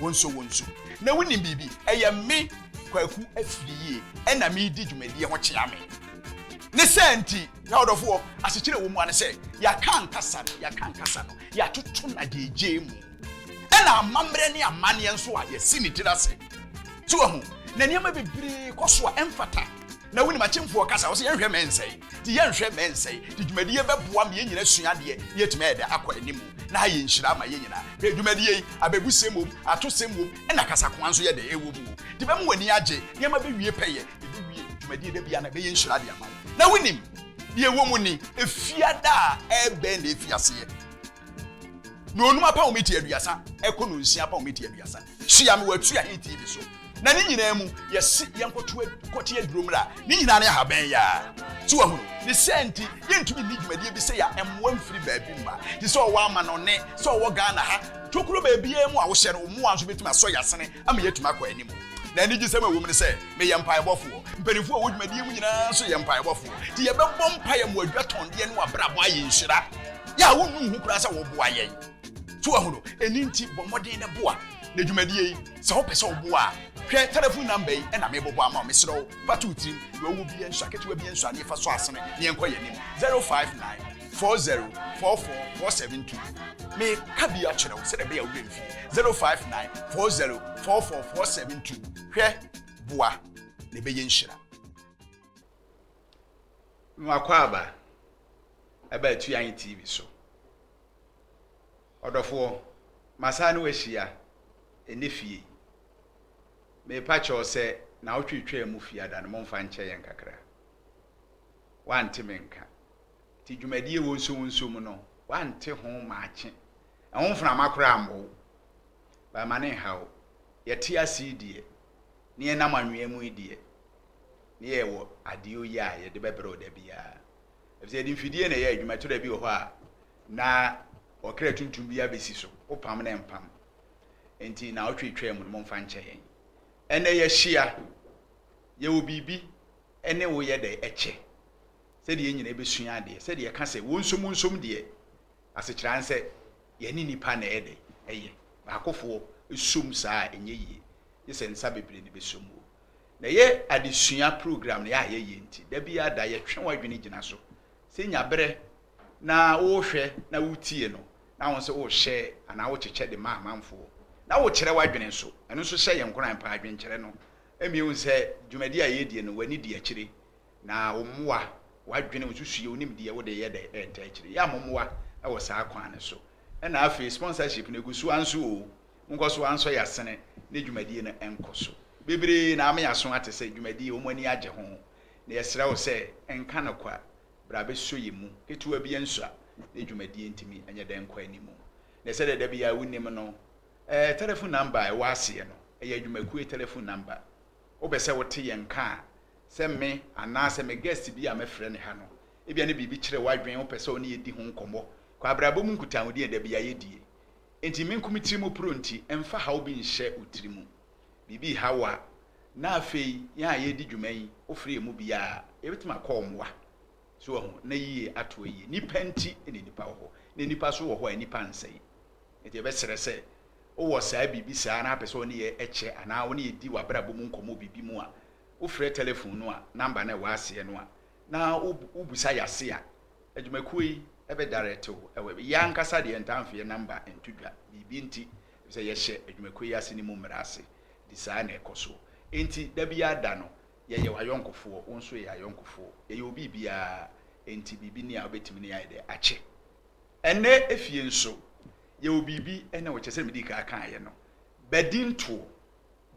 Wonsɔ wɔn nsu. Na wonim biribi. Ɛyɛ me, Kwaku Afiriyie, na meredi dwumadie ho kyea me. Ne saa nti, Yawdɔfoɔ, asekyerɛ a ɛwɔ mu ara ne sɛ, yɛaka ankasa no, yɛaka ankasa no, yɛatoto no agyeegyee mu. Ɛna amammerɛ ne amanneɛ nso a yɛasi ne tiri ase. So wahu? Na nneɛma bebree kɔ so a ɛmfata. Na wonim akyemfoɔ kasa, ɔse yɛnhwɛ mɛ nsɛe, nti yɛnhwɛ mɛ nsɛe, nti dwumadie yi bɛboa ma yɛn nyina asua adeɛ na yɛatumi ayɛ dɛ akɔ anim, na ha yɛ nhyira ama yɛn nyina. Hwɛ dwumadie yi, abɛbusɛm wom, atosɛm wom, ɛna kasakoa nso yɛ dɛ ɛwɔ mu o, nti bɛma w'ani agye, nneɛma bɛwie pɛyɛ, yɛbɛwie dwumadie da biara na ɛbɛyɛ nhyira de ama wo. Na wonim deɛ ɛwɔ mu ni, ɛfiada a ɛbɛn na ɛfi aseɛ? Na onum apɔwmiti aduasa ɛkɔ no nsia apɔwmiti aduasa. Tua me wɔ atua he TV so. Na ne nyinaa mu, yɛse yɛnkɔto kɔte aduro mmra. Ne nyinaa ne ahaban yaa. So wahunu? Ne saa nti, yɛntumi nni dwumadie bi sɛ ya mmoa mfiri baabi mma. Te sɛ ɔwɔ amanɔnne, sɛ ɔwɔ Ghana ha, tokuro baabiara mu a wohyɛ no, wo mmoa nso bɛtumi asɔ ya sene ama yɛatumi akɔ anim. Na anigyesɛm a ɛwom ne sɛ, meyɛ mpaebɔfoɔ. Mpanimfoɔ a ɛwɔ dwumadie mu nyinaa nso yɛ mpaebɔfoɔ. Nti yɛbɛbɔ mpae ama wɔadwatɔndeɛ ne wɔabrabɔ ayɛ nhyira. Yɛ a wonnu ho koraa sɛ woboa yɛn. So wahu no? Ɛno nti bɔ mmɔden na boa. Na dwumadie yi, sɛ wopɛ sɛ woboa a, hwɛ telefon namba yi na mebobɔ ama wo. Mesrɛ wo, fa to wo tirim. Deɛ ɔwɔ biara nsua, ketewa biara nsua, na yɛfa so asene na yɛnkɔ yɛn anim. 059. four zero four four four seven two meka bi akyerɛ wo sɛdeɛ ɛbɛyɛ a wobɛ mfie zero five nine four zero four four four seven two hwɛ boa na ɛbɛyɛ nhyira nwakɔ aba ɛba atu anyi tv so ɔdɔfoɔ masaa ne wahyia ɛne fie mepa kyɛw sɛ na wotwetwaa mu fie ada no momfa nkyɛ yɛn kakra wɔante me nka. Nti dwumadie ɛwɔ nsowonso mu no, wɔante ho maakye. Ɛho mframa koraa ammɔ wo. But ma no nha wo. Yɛte ase yi deɛ, ne yɛnam anwea mu yi deɛ, ne yɛwɔ adeɛ oye a yɛde bɛbrɛ wo da biara. Ɛfisɛ yɛde mfidie na ɛyɛ adwuma. Twerɛ bi wɔ hɔ a, na ɔkra tuntum bi abɛsi so. Wopam na ɛmpam. Nti naawɔtwe twaa mu no, momfa nkyɛ yɛn. Ɛnnɛ yɛahyia. Yɛwɔ biribi. ne wo yɛ dɛn kyɛ? Sɛdeɛ yɛn nyinaa bɛsua adeɛ, sɛdeɛ yɛka sɛ wonsom wonsom deɛ, asekyerɛ ara sɛ yɛne nnipa na ɛyɛ dɛn ɛyɛ. Baakofoɔ som saa a ɛnyɛ yie, gye sɛ nsa bebree na ɛbɛsom o. Na ɛyɛ adesua program no yɛ a yɛyɛ nti, da biara da yɛtwe w'adwene gyina so. Sɛ nya berɛ na wohwɛ na wotie no, na wo nso wohyɛ anaa wokyekyɛ de ma amanfoɔ, na wokyerɛ w'adwene nso, ɛno nso hyɛ yɛn nkuran paa, dwenkyerɛ no ma yɛhu sɛ dwumadi a yɛredi no, w'ani di akyire, na wo mmoa, w'adwene, wo nsusuiɛ, wo nimdeɛ, wode yɛ dɛ ɛntaa akyire. Yɛ amommoa wɔ saa kwan no so. Ɛna afei, sponsorship no, ɛgu so ara nso oo, monkɔ so ara nsɔ yɛn asene na dwumadie no nkɔ so. Bebree na ama yɛaso ate sɛ dwumadi yi, wɔn ani agye ho, na yɛsrɛ wo sɛ, nka no kwa, bra bɛsɔ yɛn mu. Ketewa biara nsua na dwumadie ntumi nyɛ dɛ nkɔ anim. Na sɛdeɛ da biara wonim no, Ɛɛ, telefon namba a ɛwɔ aseɛ no, ɛyɛ adwumakuo telefon namba. Wopɛ sɛ wote yɛn nka a, sɛ me anaa sɛ me guest bi a mɛfrɛ no ha no, ebia ne biribi kyere w'adwene, wopɛ sɛ wo ne yɛ di ho nkɔmmɔ. Kɔ abrabɔ mu nkutahodie a da biara yɛ die. Enti me nko me tiri mu poro nti, mfa haw bi nhyɛ wo tiri mu. Biribi reha wo a, na afei yɛn a yɛredi dwuma yi, wofrɛ yɛn mu biara a, yɛbɛtumi akɔ wo mmoa. So wahu? Ná yiye ato ayiye. Nnipa nti na nnipa wɔ hɔ, na nnipa nso wɔ hɔ a nnipa nsɛe. Enti yɛbɛsrɛ sɛ wowɔ saa biribi saa na wopɛ sɛ wo ne yɛn kyɛ anaa wo ne yɛn di w'abrabɔ mu nkɔmmɔ biribi mu a, wofrɛ telefon no a namba no a ɛwɔ aseɛ no a, na wobisa yɛn ase a, adwumakuo yi bɛdaerɛte wo wɔ ɛbɛ. Yɛn ankasa deɛ yɛntaa mfa yɛn namba nto dwa, biribi nti, efisɛ yɛhyɛ adwumakuo yi ase no mu mmara ase, enti saa na ɛkɔ soɔ. Enti da biara da no, Yɛyɛ w'ayɔnkofoɔ, wo nso yɛ yɛn ayɔnkofoɔ. Yɛyɛ obi biara, enti biribi nni a wobɛtumi ne yɛn ayɛ dɛn akyɛ. Ɛnnɛ efie nso, yɛwɔ biribi ne wo, kyerɛ sɛdeɛ medii kan kaeɛ no, badintoɔ,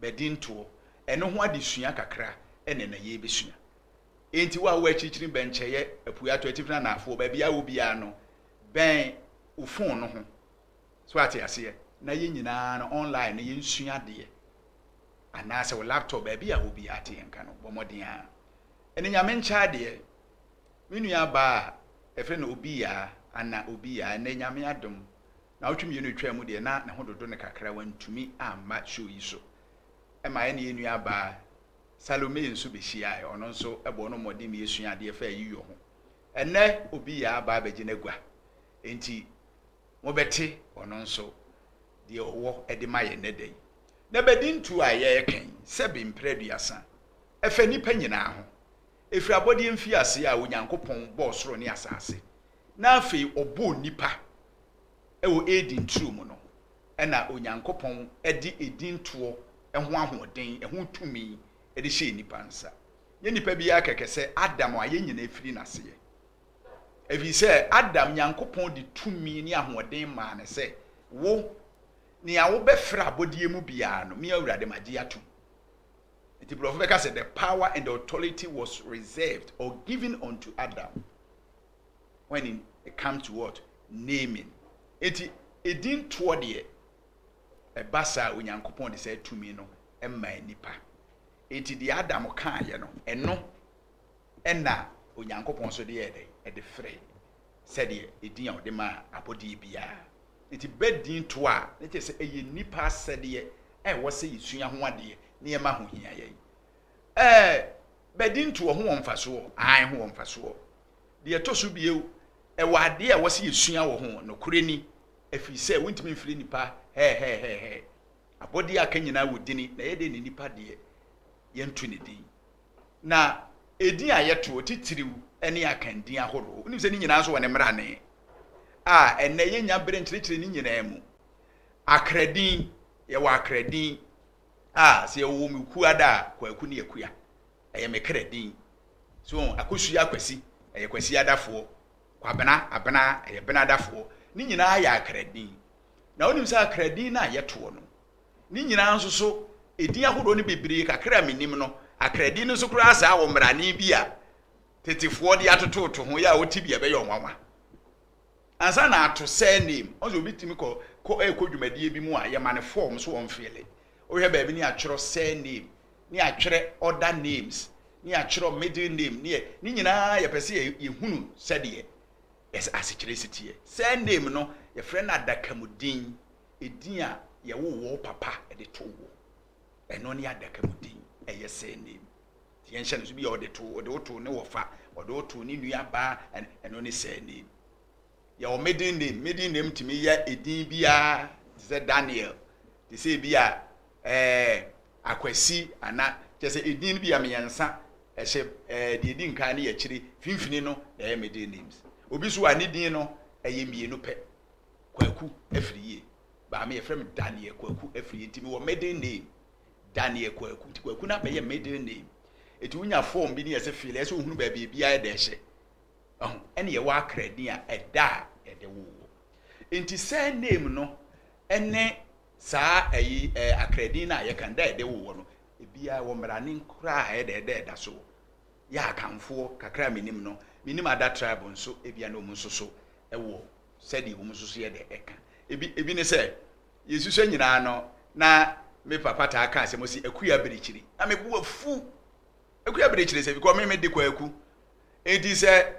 badintoɔ. Ɛno ho adesua kakra na ɛnnɛ yɛrebɛsua. Enti wo a wowɔ akyirikyiri, bɛnkyɛeɛ, apueɛ, atɔeɛ, atifi ne anaafoɔ, baabiara a wowɔ biara no, bɛn wo fon no ho, so ate aseɛ, na yɛn nyinaa no, online no, yɛnsua adeɛ. anaasɛ wo laptop baabi a obiara te nka no, bɔ mmɔden ara. Ɛne Nyame nkyɛ adeɛ. Me nua baa a yɛfrɛ no Obiyaa, Anna Obiyaa, ɛnnɛ Nyame adom, naawɔtwe mmienu ɛtwaa mu deɛ na ne ho dodo no kakra, wantumi amma show yi so. Ɛma ɛne yɛn nua baa Salome nso bɛhyiaaɛ, ɔno nso ɛbɔɔ no mmɔden ma yɛsua adeɛ faa ayiyɔ ho. Ɛnnɛ Obiyaa aba abɛgye n'agua, enti mobɛte ɔno nso deɛ ɔwɔ de ma yɛn nnɛ da yi. Na badintuo a yɛreka yi, sɛbe mprɛ aduasa, ɛfa nnipa nyinaa ho, ɛfiri abɔdeɛ mfiaseɛ a Onyankopɔn bɔɔ soro ne asase, na afei ɔbɔɔ nnipa wɔ Eden turo mu no, ɛna Onyankopɔn de edintoɔ ho ahoɔden, ɛho tumi de hyɛɛ nnipa nsa. Nyɛ nnipa biara kɛkɛ sɛ Adam a yɛn nyinaa firi n'aseɛ. Efisɛ Adam Nyankopɔn de tumi ne ahoɔden maa no sɛ, Wo, nea wobɛfrɛ abɔdeɛ mu biara no, me Awurade magye atom. Enti borɔfo bɛka sɛ, The power and authority was reserved or given unto Adam when it comes to what? Naming. Enti edin toɔ deɛ, ɛba saa Onyankopɔn de saa tumi no maa nnipa. Enti deɛ Adam kaeɛ no, ɛno Ɛnna Onyankopɔn nso de yɛɛ dɛn? Ɛde feree sɛdeɛ edin a ɔde maa abɔdeɛ biara. Enti bɛ din to a, na kyerɛ sɛ ɛyɛ nnipa asɛdeɛ a ɛwɔ sɛ yɛsua ho adeɛ na yɛma ho hia yɛn. Ɛɛ, bɛ din to, ɛho wɔ mfasoɔ? Aane, ɛho wɔ mfasoɔ. Deɛ ɛtɔ so bio, ɛwɔ adeɛ a ɛwɔ sɛ yɛsua wɔ ho. Nokorɛ ni, ɛfiri sɛ wontumi mfrɛ nnipa hɛɛhɛɛhɛɛhɛɛ. Abɔdeɛ a aka nyinaa wɔ dini, na ɛyɛ dɛn na nnipa deɛ, yɛnto ne din? Na edin a yɛtoɔ, titiriw, ne akandin ahorow. Wonim sɛ ne nyinaa nso wɔ ne mmrane a ɛnnɛ yennya bere nkyerɛkyerɛ ne nyinaa mu. Akradin, yɛwɔ akradin a sɛ yɛwɔ wɔ me kuo ada a, Kwaku ne Akua. Ɛyɛ me kra din. So wɔn, Akosua Akwasi, ɛyɛ Kwasi adafoɔ. Kwabena, Abena, ɛyɛ Bena adafoɔ. Ne nyinaa yɛ akradin. Na wonim sɛ akradin no a yɛtoɔ no, Ne nyinaa nso so, edin ahodoɔ no bebree kakra a menim no, Akra din no nso koraa saa wɔ mmarane bi a tetefoɔ de atototo ho yɛ a wote bi a ɛbɛyɛ ɔnwanwa. Ansa na ato surname, ɔn sɛ obi tumi kɔ kɔ ɛkɔ dwumadie bi mu a yɛma no form so wɔn fele. Wohwɛ baabi ne atwerɛ surname, ne atwerɛ other names, ne atwerɛ middle name, ne ne nyinaa yɛpɛ sɛ yɛhunu sɛdeɛ yɛsɛ asekyerɛ si teɛ. Surname no yɛfrɛ no adakamudin. Edin a yɛwoo wo papa de too wo, ɛno ne adaka mu din, ɛyɛ surname. Nti yɛnhyɛ no so, bi a ɔde too, ɔde wo too ne wɔfa, ɔde wo too ne nuabaa, ɛno ne surname. Yɛwɔ middle name, middle name tumi yɛ edin biara te sɛ Daniel, te sɛ ebi a ɛɛ Akwasi ana kyɛ sɛ edin bi a mmiɛnsa ɛhyɛ ɛɛ deɛ edi nkan ne yɛ akyire, finfini no na ɛyɛ middle names. Obi so a ne din no ɛyɛ mmienu pɛ. Kwaku Afriyie. But me yɛfrɛ me Daniel Kwaku Afriyie nti mewɔ middle name Daniel Kwaku nti Kwaku no abɛyɛ middle name. Ɛti wonya form bi ne yɛsɛ feel ɛsɛ wohunu baabi ebi ayɛ dɛ hyɛ. Ɛho, ɛne yɛwɔ akra din a ɛda a yɛde wo wɔ. Nti surname no ɛne saa ɛyi ɛ akra din no a yɛka no da a yɛde wo wɔ no ebiara wɔ mmaranen koraa a ɛyɛ dɛ ɛda ɛda so wɔ. Yɛ akanfoɔ kakra a menim no, menim ada tribe nso ebia na wɔn nso so ɛwɔ sɛdeɛ wɔn nso so yɛ dɛ ɛka. Ebi, ebi ne sɛ, yɛsusua nyinaa no, na me papa taa ka asɛm ɔsi, Akui abirikyiri. Na me bo afu. Akui abirikyiri sɛ, bikɔ me me de kwaku. Enti sɛ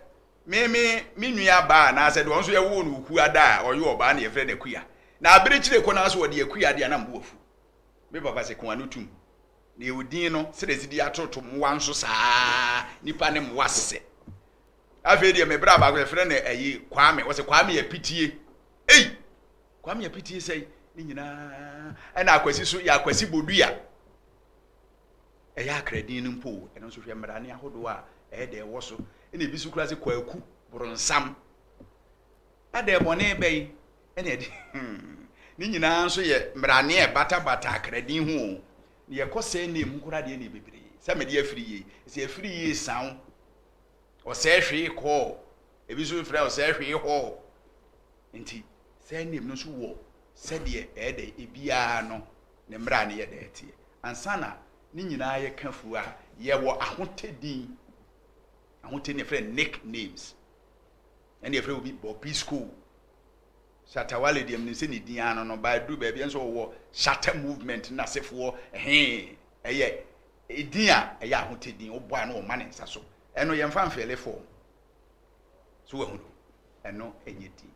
me me me nua baa anaasɛ deɛ ɔno nso yɛwoo no okua da a, ɔyɛ ɔbaa na yɛfrɛ no akua. Na abirikyire kɔ naa so ɔde akua deɛ na me bo afu. Me papa sɛ, ko ano tum. Na yɛwɔ din no, sɛdeɛ ɛsi di atoto mmoa nso saa ara, nipa ne mmoa sesɛ. Afei deɛ me bra baako yɛfrɛ no ayi Kwame wɔsɛ Kwame apitie ei Kwame apitie sɛi ne nyinaa ɛna akwasi so yɛ akwasi bodua ɛyɛ akradin no mpo ɛno nso hwɛ mmara ne ahodoɔ a ɛyɛ dɛ ɛwɔ so ɛna ebi so kura sɛ kwaku boronsam adɛ bɔne bɛyi ɛna ɛde ne nyinaa nso yɛ mmara ne ɛbatabata akradin ho o na yɛkɔ sɛ ne mu kora deɛ ne bebree sɛ mede afiri yie sɛ afiri yie san Ɔsɛe hwee kɔɔ. Ebi nso frɛ ɔsɛe hwee hɔɔ. Enti saa name no nso wɔ sɛdeɛ ɛyɛ dɛ ebiara no ne mmara a ne yɛ dɛ teɛ. Ansa na ne nyinaa yɛ ka fuo a, yɛwɔ ahotɛ din. Ahotɛ din yɛfrɛ no nick names. Ɛne yɛfrɛ obi Bobisco, Shatta Wale deɛ menim sɛ ne din ara no no, ba aduru baabi nso ɔwɔ Shatta movement no n'asefoɔ hee ɛyɛ Edin a ɛyɛ ahotɛ din, wobɔ a na wɔma ne nsa so. Ɛno yɛmfa mfeele fɔɔm. So wahunu? Ɛno nyɛ din.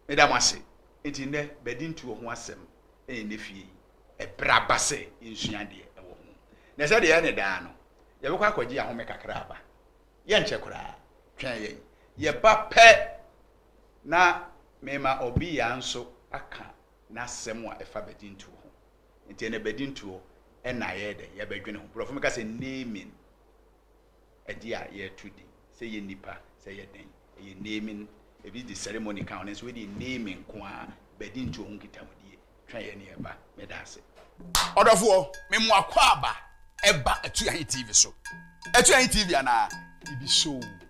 Meda mo ase. Enti nnɛ, badintuo ho asɛm ne nnɛ fie yi, ɛberɛ aba sɛ yɛnsua deɛ ɛwɔ ho. Na sɛdeɛ ɛyɛ no daa no, yɛbɛkɔ akɔgye ahome kakra aba. Yɛnkyɛ koraa, twɛn yɛn. Yɛba pɛ na mema Obiya nso aka n'asɛm a ɛfa badintuo ho. Nti ɛnɛ bɛdi ntuo ɛna yɛyɛ dɛ yɛbɛdwene ho. Borɔfo no ka sɛ naming, ɛde a yɛto din. Sɛ yɛ nipa, sɛ yɛ dɛn, ɛyɛ naming. Ebi de ceremony ka ho nanso wei deɛ naming nko ara, bɛdi ntuo ho nkitahodie, twa yɛ ne ɛba. Meda ase. Ɔdɔfoɔ, me mo akwaaba ɛba Atuahe TV so. Atuahe TV anaa? Ibisoo.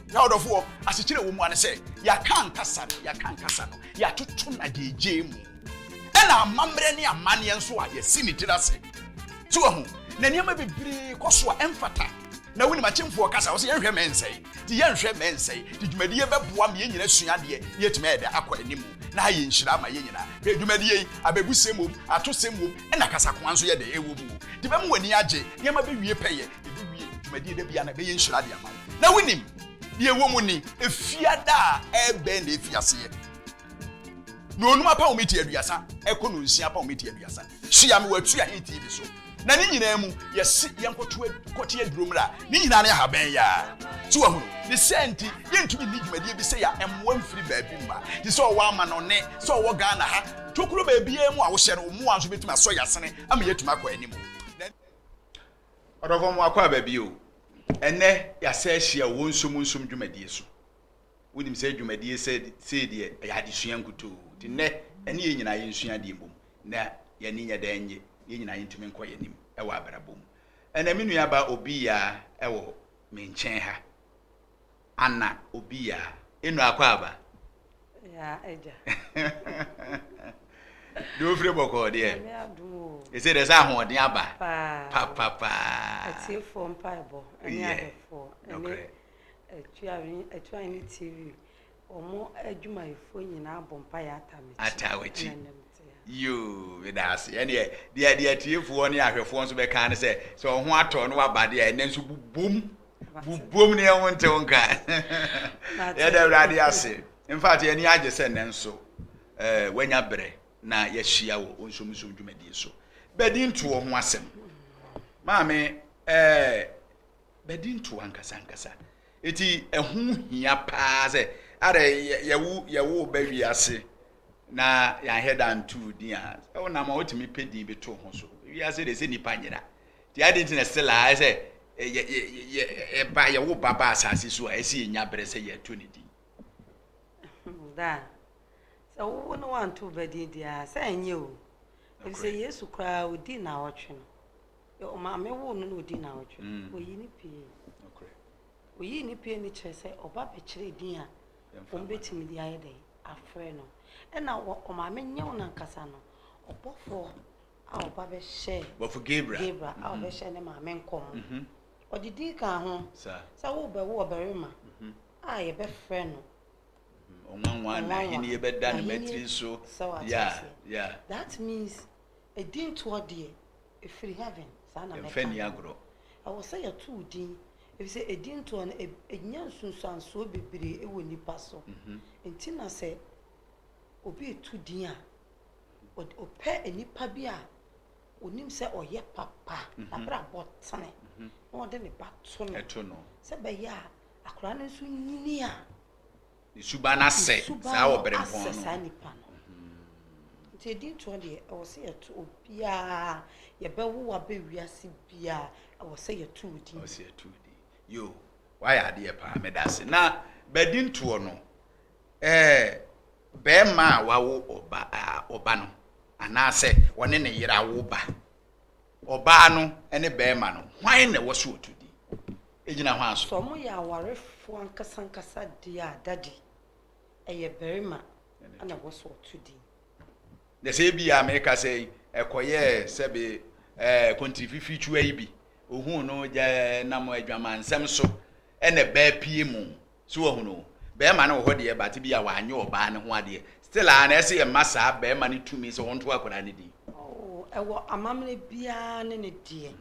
Na ɔdɔfo wɔ asekyerɛ wɔ mu ane sɛ yɛaka ankasa no, yɛaka ankasa no, yɛatoto no agyegyeɛ mu. Ɛna amammerɛ ne amanneɛ nso a yɛasi ne tiri ase. So wahu? Na nneɛma bebree kɔ so a ɛmfata. Na wonim akyemfoɔ kasa, wɔsɛ yɛnhwɛ mɛ nsɛe. Nti yɛnhwɛ mɛ nsɛe. Nti dwumadie bɛboa ma yɛn nyina asua adeɛ na yɛatumi ayɛ dɛ akɔ anim. Na ha yɛ nhyira ama yɛn nyina. Hwɛ dwumadie yi, abɛbusɛm wom, atosɛm wom, ɛna kasakoa nso yɛ dɛ ɛwɔ mu. Nti bɛma w'ani agye, nneɛma bɛwie pɛyɛ. Yɛbɛwie dwumadie da biara na ɛbɛyɛ nhyira de ama wo. Na wonim, deɛ ɛwɔ mu ni, Efiada a ɛrebɛn na ɛfi aseɛ. Na onum apam miti aduasa ɛkɔ no nsia apam miti aduasa. Sua me wɔatu ahe TV so. Na ne nyinaa mu, yɛse yɛnkɔte aduro mmra. Ne nyinaa ne ahaban yi ara. So wahunu? Ne saa nti, yɛntumi nni dwumadie bi sei a mmoa mfiri baabi mma. Te sɛ ɔwɔ amanɔnne, sɛ ɔwɔ Ghana ha, tokuro baabiara mu a wohyɛ no, wo mmoa nso bɛtumi asɔ yɛn asene ama yɛatumi akɔ anim. Ɔdɔfo mo akɔ aba bio. Ɛnɛ yɛasa ahyia wɔ nsom nsom dwumadie so. Wonim sɛ dwumadie sɛ sei deɛ ɛyɛ adesua nkutoo. Nti nnɛ ɛne yɛn nyinaa yɛnsua adeɛ mbom na yɛne nyɛ dɛn nye yɛn nyinaa yɛntumi nkɔ yɛn anim ɛwɔ abrabɔ mu. Ɛnɛ me nua ba obi ya ɛwɔ me nkyɛn ha. Ana obi ya enu akwaaba? Ya agya. Deɛ ofire bɔkɔɔ deɛ. Nyame adum o. Ese deɛ sɛ ahoɔden aba. Paa. Papapaa. Atiefoɔ mpaebɔ ɛne ahwɛfoɔ ɛne Atuaini TV wɔn adwumayɛfoɔ nyinaa bɔ mpaeɛ atawekyi. Atawekyi. Yoo, meda ase. Ɛnneɛ, deɛ deɛ atiefoɔ ne ahwɛfoɔ nso bɛka ne sɛ, sɛ wɔn ho atɔ na wɔaba deɛ a, ɛnnɛ nso bobom. Bobom ne ɛho ntew nka. Yɛda Awurade ase. In fact, yɛn ani agye sɛ nnɛ nso eh, wanya berɛ na yɛahyia wɔ ɔnsomusom dwumadie so. Bɛdi ntoɔ ho asɛm. Maame, eh, bɛdi ntoɔ ankasa ankasa. Eti ɛho hia paa sɛ, ara yɛwo yɛwo ba wiase na yɛanhwɛ da antoo din a wonam a wotumi pɛ din bi to ho so wiase de sɛ nnipa nyera nti ade nti na stella ayɛ sɛ ɛba yɛwo ba ba asase so a ɛsɛ yɛnya berɛ sɛ yɛto ne din daa sɛ wowo no wanto ba din di a sɛ ɛnyɛ o ɛfi sɛ yesu koraa ɔdi na ɔtwe no ɔmaame wo no na ɔdi na ɔtwe mm. ɔyi ne pie ɔyi ne pie no kyerɛ sɛ ɔba bɛkyerɛ din a wɔn bɛtumi de ayɛ dɛn afrɛ no. Ɛna wɔ ɔmaame nyew nankasa no, ɔbɔfoɔ a ɔba bɛhyɛɛ. Bɔfo Gabriel. Gabriel a ɔbɛhyɛɛ ne maame nkɔm. Ɔde din kaa ho. Sa. Sɛ worebɛwo ɔbarima a yɛbɛfrɛ no. Ɔnwanwa na ahennie bɛda ne matiri so. Sɛ wate aseɛ. Yeah, yeah. That means edintoɔ deɛ efiri heaven. Saa na mɛka no. Yɛmfa nni agorɔ. Ɛwɔ sɛ yɛto wo din Efisɛ edintoɔ no, ɛnya nsunsuansoɔ bebree wɔ nnipa so. Enti na sɛ obi reto din a, ɔpɛ nnipa bi a ɔnim sɛ ɔyɛ papa, n'abrabɔ tene, na ɔde ne ba to no, sɛ ɛbɛyɛ a akwadaa no nso nyini a. Ne suban asɛ saa wɔ bere mpɔn no. Ne suban asɛ saa nipa no. Nti edi ntoɔ deɛ ɛwɔ sɛ yɛto obiara yɛbɛwo abɛ wiase biara ɛwɔ sɛ yɛto odin. Ɛwɔ sɛ yɛto odin. Yo, wayɛ adeɛ paa meda ase. Na bɛdi ntoɔ no ɛɛ bɛɛma a wawo ɔba a ɔba no anaasɛ ɔne ne yere awo ba Ɔbaa no ne barima no, hwan na ɛwɔ sɛ ɔtu din? Egyina hwan so? Sɛ wɔyɛ awarefoɔ ankasankasa deɛ a, Daddy, ɛyɛ barima na ɛwɔ sɛ ɔto din. Na sɛ ebi a meka sɛ yi, ɛkɔyɛɛ sɛbe ɛɛ kontiri fifitwua yi bi, ohuu no gya nam adwamansɛm so, ɛna baa pie mu, So wahu no? Bɛɛma no wɔ hɔ deɛ but ebia wanyɛ ɔbaa no ho adeɛ. Still aa na ɛse yɛmma saa bɛɛma no tumi sɛ ɔnto akwadaa no din. Oh, ɛwɔ amammerɛ biara ne ne deɛ.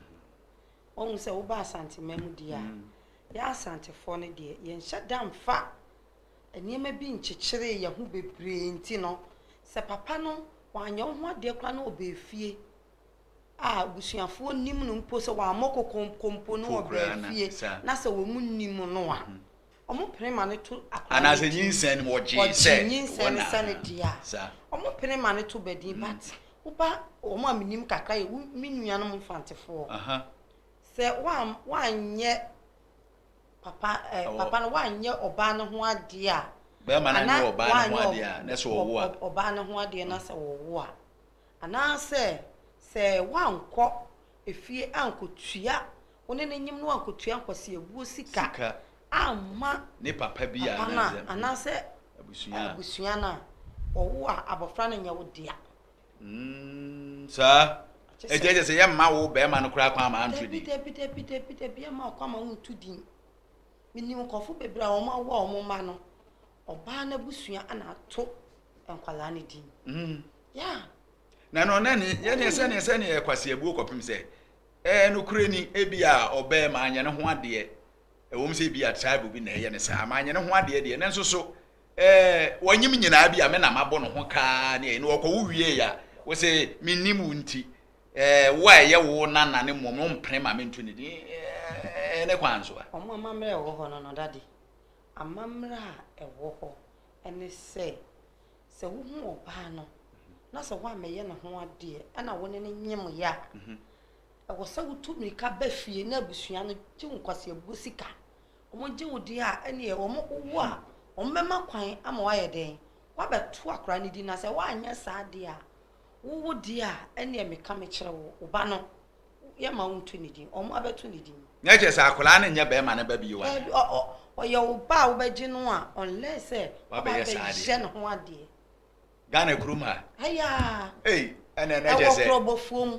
Wahu sɛ woba Asanteman mu deɛ a, yɛ Asantefoɔ no deɛ yɛnhyɛ da mfa nneɛma bi nkyekyere yɛn ho bebree nti no, sɛ papa no wanyɛ wo ho adeɛ koraa na ɔba efie a abusuafoɔ nnim no mpo sɛ wammɔ kɔkɔ mpo mpo na ɔbaa fie na sɛ wɔn nnim no a wɔn pene ma no to akora no din nyinsɛn mu ɔgye sɛ nyinsɛn no sɛ ne deɛ a wɔn pene ma no to badin but woba wɔn a menim kakra yɛ me nuanom mfantefoɔ sɛ woanyɛ papa ɛɛ papa no woanyɛ ɔbaa no ho adeɛ a bɛrima no anyɛ ɔbaa no ho adeɛ a na sɛ ɔwo a ɔbaa no ho adeɛ na sɛ ɔwo a anaasɛ sɛ woankɔ efie ankotua wo ne no nyim no ankotua nkwaseabuo sika amma papa no a anaasɛ abusua no a, wɔwo a, abɔfra no nyɛ wo dea. Mm, saa. Ɛkyɛ sɛ- Ɛti ɛkyɛ sɛ yɛmma wo bɛrima no koraa kwan ma anto Dabi, din. dabi, dabi, dabi, dabi, yɛmma wo kwan ma wonto din. Menim nkurɔfo bebree a wɔawo a wɔn mma no, Ɔbaa no abusua na ato nkwadaa no din. Mm. Yeah. Na no na ne yɛ ne sɛ ne sɛ ne kwaseabuo kɔpem sɛ ɛɛ no kure ni ebi a ɔbɛɛ ma anyɛ ne ho adeɛ ɛwɔ mu sɛ ebi a tribe bi na ɛyɛ ne saa ma anyɛ ne ho adeɛ deɛ ne nso so ɛɛ wɔnyim nyinaa bi a me na mabɔ ne ho kaa ne ɛyɛ no ɔkɔ wo wie ya wɔ sɛ menim wo nti ɛɛ wo a ɛyɛ wo nana ne mmom no mpene ma mento ne din ɛɛ ne kwan so a. Ɔmo amammerɛ ɛwɔ hɔ no no dade Amammerɛ a ɛwɔ hɔ ne sɛ, sɛ wohu ɔbaa no na sɛ woammɛyɛ ne ho adeɛ na wo ne no nyemeeɛ a, ɛwɔ sɛ wotu mmirika ba fie na abusua no gye wo nkwaseabuo sika. Wɔgye wo deɛ a, ɛnneɛ wowo a, wɔbɛma kwan ama woayɛ dɛn? Woabɛto akwadaa no din. Na sɛ woanyɛ saa deɛ a, wowo deɛ a, ɛnneɛ meka mekyerɛ wo, wo ba no, Yɛma wo nto ne din. Ɔmo abɛto ne din. Nyɛ kyerɛ sɛ akwadaa no nyɛ bɛrima ne ba bio anaa? Daabi, ɔ ɔ ɔyɛ wo ba a wobɛgye no a unless sɛ wabɛyɛ saa adeɛ. Wabɛyɛ ne ho adeɛ. Ghana kurom ha. Ayaa. Ei, ɛna ɛna kyɛ sɛ. Ɛwɔ kurɔbɔfoɔ mu.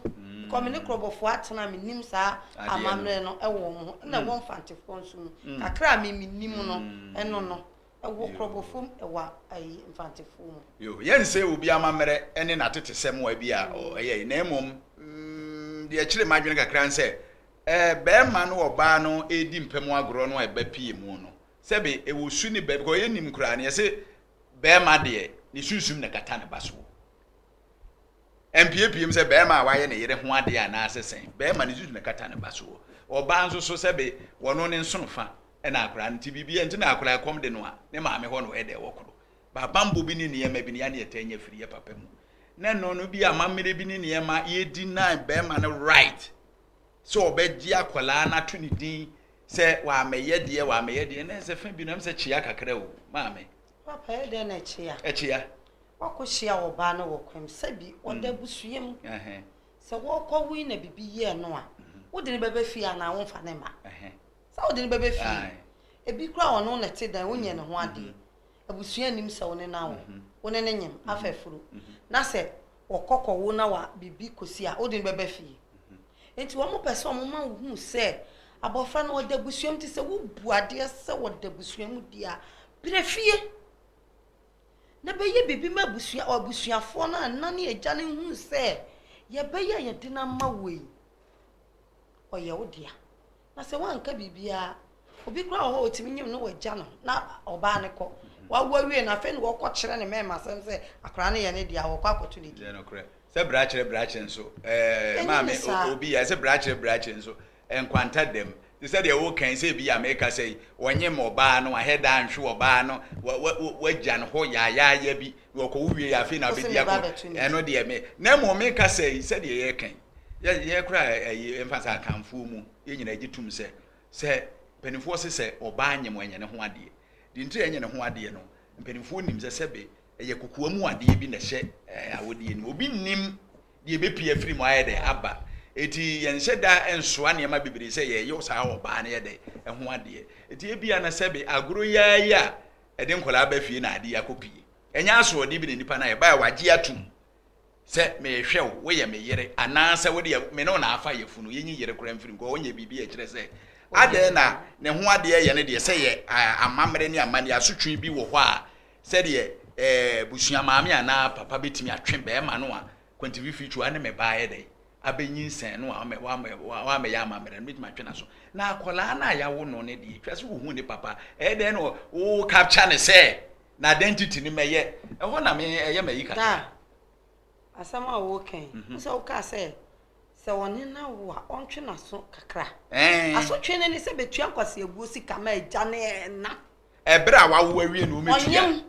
Kɔ me ne kurɔbɔfoɔ atena me nim saa amammerɛ no ɛwɔ wɔn ho. Ɛna ɛwɔ mfantefoɔ nso mu. Kakra a me me nim no ɛno no. Wɔ Krɔbofom wɔ ayi Mfantefoɔ mu. Yoo, yɛnsɛe obi amammerɛ ne n'atetesɛm wɔ bi a ɔyɛ yi, na mmom mm, deɛ ɛkyere m'adwene kakra ne sɛ, eh, barima ne ɔbaa no redi mpam agorɔ no a ɛba pii mu no, sɛbe ɛwɔ su ne ba, because yɛnnim koraa no, yɛse barima deɛ ne sunsum na ɛkata ne ba soɔ. Ɛmpiepiem sɛ barima a wayɛ ne yere ho adeɛ anaasɛ sɛn, barima ne sunsum na ɛkata ne ba soɔ. Ɔbaa nso so sɛbe wɔno ne nsono fa na akwadaa no, nti biribi nti na akwadaa kɔm de no a, ne maame hɔ na ɔyɛ dɛ wɔ koro. Baabambɔ bi ne nneɛma bi ne yɛ ne yɛtaa nya firi yɛ papa mu. Na ɛno no bi amammerɛ bi ne nneɛma yɛdi na bɛrima no right sɛ ɔbɛgye akwadaa no ato ne din sɛ wamɛyɛ deɛ wamɛyɛ deɛ na ɛsɛ fɛ bi na ɛsɛ kyea kakra o maame. Papa yɛ dɛ na ɛkyea. Ɛkyea. Wakɔ hyia wɔ baa no wɔ kwam sɛbi ɔda mm. busua mu. Sɛ wɔkɔ wui na bibi yɛ no a, mm-hmm. wode ne bɛbɛ fie anaa womfa ne ma. Sɛ wode no bɛbɛ fie. Ebi koraa wɔ ɔno na ɛte dan, wonyɛ ne ho adeɛ. Abusua nnim sɛ wo ne no awo. Wo ne no nyem, afa afuro. Na sɛ wɔkɔ kɔwo na wa biribi kɔsi a, wode no bɛbɛ fie. Enti wɔpɛ sɛ wɔma wo hu sɛ abɔfra no ɔda abusua mu. Nti sɛ wobu adeɛ sɛ ɔda abusua mu deɛ a, brɛ fie na bɛyɛ biribi ma abusua, abusuafoɔ no a ɛna ne agya no hu sɛ yɛbɛyɛ a yɛde no ama wo yi, ɔyɛ wo dea. na sɛ wanka biribiara obi kura wɔ hɔ ɔtumi nyim no wɔagya no na ɔbaa no kɔ mhm. wawoa wie no afei na wɔkɔ kyerɛ ne mɛma asɛm sɛ akwaraa no yɛ ne deɛ wɔkɔ akɔto ne din sɛ brakyerɛ brakyerɛ nso ɛɛ maame obi yɛ sɛ brakyerɛ brakyerɛ nso nkwanta dɛm te sɛ deɛ wokan sɛ bi a meka sɛ yi wɔnye ma ɔbaa no wahɛ daa nhwe ɔbaa no wagya no hɔ yaayaaya bi na ɔkɔwo wie afei na abɛdi akɔ ɛno deɛ me na mmom meka sɛ yi sɛdeɛ yɛkan yɛ yɛ kora ɛyi mfa sɛ akanfoɔ mu yɛ nyina agye tum sɛ sɛ mpanimfoɔ se sɛ ɔbaa nyem ɛnyɛ ne ho adeɛ deɛ ntiri ɛnyɛ ne ho adeɛ no mpanimfoɔ nim sɛ sɛbe ɛyɛ kokoa mu adeɛ bi na ɛhyɛ ɛɛ awodeɛ ni obi nim deɛ ɛbɛpie afiri mu ayɛ dɛ aba eti yɛnhyɛ da nsoa nneɛma bebree sɛ yɛyɛ saa ɔbaa no yɛ dɛ ɛho adeɛ eti ebia na sɛbe agoro yaa yi a ɛde nkɔlaa ba fie na adeɛ akɔpie ɛnyɛ asoɔdeɛ bi na nipa no ayɛ ba a wagye atum sɛ mehwɛ wo, woyɛ me yere anaasɛ wo deɛ me ne wo na afa yafunu, yɛnyi yere koraa mfiri nkɔ, ɔnyɛ biribi a ɛkyerɛ sɛ adɛn na ne ho adeɛ yɛ no deɛ sɛ yɛ amammerɛ ne amanneɛ asotwe bi wɔ hɔ a sɛdeɛ ɛɛ busua maame anaa papa bɛtumi atwe bɛrima no a kwantififi twa ne me baayɛ dɛ abɛnyinsɛn no a wamɛyɛ amammerɛ no bɛtumi atwe no so na akwadaa no a yɛawo no no deɛ twa sɛ wohu ne papa ɛyɛ dɛn na wo capture ne sɛ Na identity no mɛyɛ. Ɛhɔ na me ɛyɛ m'ayi kakra. Daa, asɛm a woka yi, wohu sɛ wokaa sɛ, sɛ ɔne no awo a, ɔntwe n'aso kakra. Ɛɛn. Asotwe no ne sɛ betua nkwaseabuo sika ma agya ne ɛna. Ɛberɛ a wawo awie na wɔbɛtua. Ɔnyem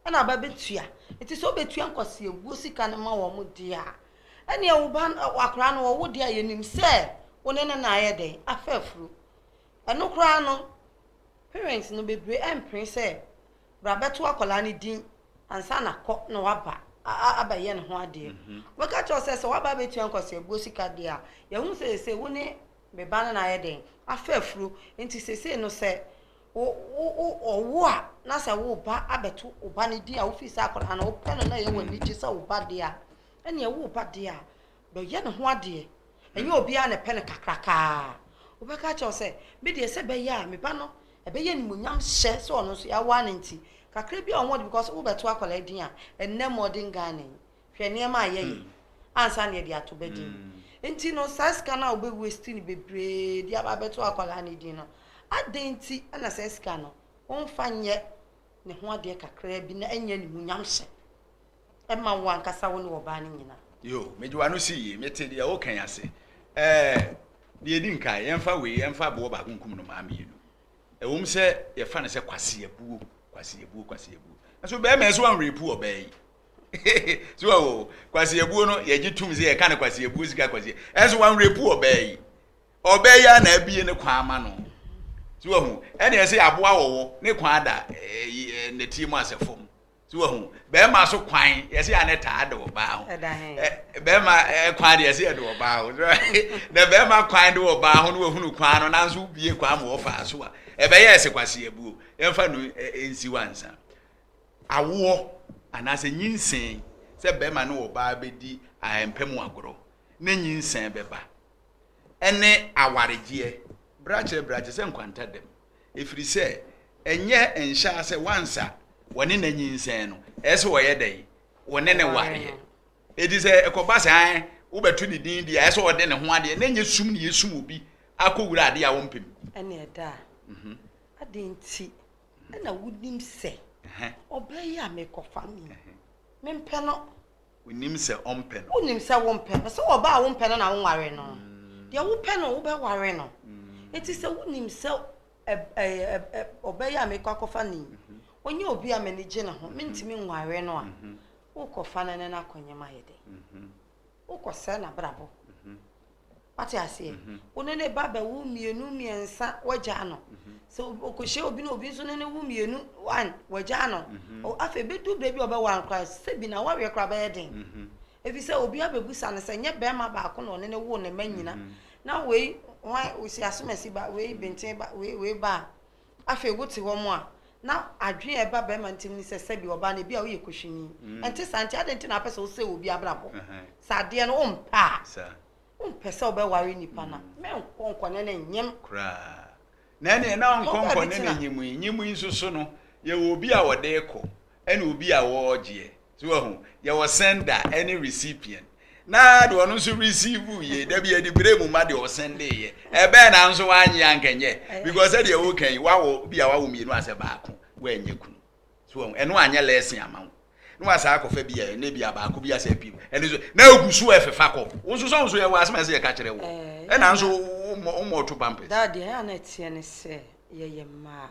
ɛna aba bɛtua. Nti sɛ ɔbɛtua nkwaseabuo sika no ma wɔn deɛ a, ɛnneɛ wo ba, akwadaa no wɔwo deɛ a, yɛnim sɛ wo ne no na ayɛ dɛn? Afa afuro. Ɛno koraa no, Parents no bebree ɛmpene sɛ bra bɛto akwadaa no din ansa na kɔ na waba abɛyɛ ne ho adeɛ. Wɔbɛka akyerɛ wo sɛ sɛ waba abɛtua nkwaseabuo sika deɛ a, yɛahunu sɛ seesei wo ne me ba no na ayɛ dɛn? Afa afuro. Nti seesei no sɛ wo wo ɔwo a na sɛ wo ba abɛto wo ba no din a wofii sɛ akwadaa no wopɛ no na ɛyɛ wo anigye sɛ wo ba deɛ a, ɛnneɛ wo ba deɛ a Dɔ yɛ ne ho adeɛ. Ɛnyɛ obiara na ɛpɛ no kakraka ara. Wobɛka akyerɛ wo sɛ, Me deɛ sɛ ɛbɛyɛ a me ba no ɛbɛyɛ animuonyam hyɛ sɛ ɔno nso yɛawa no nti, kakra bi a ɔwɔ de because wobɛto akwadaa din a, ɛnnɛ modern Ghana yi, hwɛ nneɛma a yɛyɛ ansa na yɛde ato ba din. Nti no saa sika no a wobɛ waste no bebree de aba abɛto akwadaa no din no, adɛn nti na saa sika no womfa nyɛ ne ho adeɛ kakra bi na ɛnyɛ animuonyam hyɛ? Ɛma wo ankasa wo ne ɔbaa no nyina. Yo, mede w'ano sii yei, mete deɛ woka yi ase. Ɛɛ, deɛ ɛdi nkan, yɛmfa wei, yɛmfa aboɔ baako nkum nnomaa mmienu. Ɛwom sɛ yɛfa no sɛ kwaseabuo, kwaseabuo, kwaseabuo. Nso bɛrima yi so anrepu ɔbaa yi. so wawo, kwaseabuo no, yɛgye tum sɛ yɛka no kwaseabuo sika kwasea. Ɛnso wanrepu ɔbaa yi. Ɔbaa yi a na abie ne kwan ama no. So wahu, ɛne ɛsɛ aboa wɔwɔ ne kwan ada eh, eh, nɛteɛ mu asɛ fam. so wahu bɛrima so kwan yɛsɛ yɛ ne taa de ɔbaa ho bɛrima kwan de yɛsɛ yɛ de ɔbaa ho na bɛrima kwan de ɔbaa ho no wahunu kwan no nanso bie kwan ma wɔfaa so a ɛbɛyɛ ɛsɛ kwasi abuo yɛmfa no nsi wansa awoɔ anaasɛ nyinsɛn sɛ bɛrima ne ɔbaa bɛdi ahɛmpɛ mu agorɔ ne nyinsɛn bɛba ɛne awaregyeɛ brakyerɛ brakyerɛ sɛ nkwanta dɛm Ɛfiri sɛ ɛnyɛ nhyɛa sɛ once a wɔne no anyinsɛn no ɛyɛ sɛ wɔyɛ dɛn? Wɔne no wareɛ. Ɛti sɛ ɛkɔba saa ɛ wobɛto ne din deɛ ɛyɛ sɛ ɔde ne ho adeɛ na ɛnyɛ sum ne yɛsum obi akɔ wura adeɛ a ɔmpem. Ɛne ɛda a mhm. adɛn nti na wonim sɛ ɔbaa yi a mekɔfa no yi mempɛ no. Onim sɛ ɔmpɛ no. Wonim sɛ wompɛ no. Sɛ ɔbaa a wompɛ no na wonwaree no. Deɛ wopɛ no wobɛware no. Enti sɛ wonim sɛ ɔbɛyɛ a mekɔ akɔfa no yi, ɔnyɛ obi a m'ani gye ne ho, mentumi nware no a, wokɔfa no ne no akɔnyem ayɛ dɛn? Wokɔsɛe n'abrabɔ. Wate aseɛ? Wo ne ne ba bɛwo mmienu mmiɛnsa wagyaa no. Sɛ ɔkɔhyia obi na obi nso ne ne wo mmienu one wagyaa no. Afei bɛdu berɛ bi a ɔbɛwɔ ankora sɛ bi na wareɛ koraa bɛyɛ den. Ɛfiri sɛ obi abɛbusa no sɛ nyɛ bɛrima baako na ɔne ne wo ne mma nyina. Na wei wɔn si asomasi ba wei benten ba wei wei ba a. Afei wote hɔ mo a, na adwene a ɛba barima no tirim ne sɛ sɛbi ɔbaa no ebia ɔyɛ kuhwini. Ɛnte saa? Nti adɛn nti na wopɛ sɛ wosɛe obi abrabɔ? Sɛ adeɛ no wompɛ a, wompɛ sɛ wobɛware nipa no a, mɛnkɔ nkɔne no nnyem. Koraa. Na ɛneɛ na ɔnkɔ nkɔne no nnyem yi. Nnyem yi nso so no, yɛwɔ obi a ɔde rekɔ. ɛne obi a wɔɔgyeɛ so wahu yɛwɔ sender ɛne recipient na deɛ ɔno nso receive yie dabi ɛde bere mu ma deɛ ɔsɛnde yɛ ɛbɛn na nso wanyɛ ankɛnyɛ because ɛdeɛ woka yi wawɔ bi a wawɔ mmienu asɛ baako wanyɛ kunu so wahu ɛno anyɛ lɛsin ama wo na wasa akɔfa bi a ɛne bi a baako bi asɛ pii ɛno nso na egu so ɛfefa kɔ wo nso sɛ wo nso yɛwɔ asɛm ɛsɛ yɛka kyerɛ wo ɛna nso womɔ womɔ to pampers. Dadeɛ ɛyɛ a na ɛteɛ ne sɛ yɛyɛ mmaa.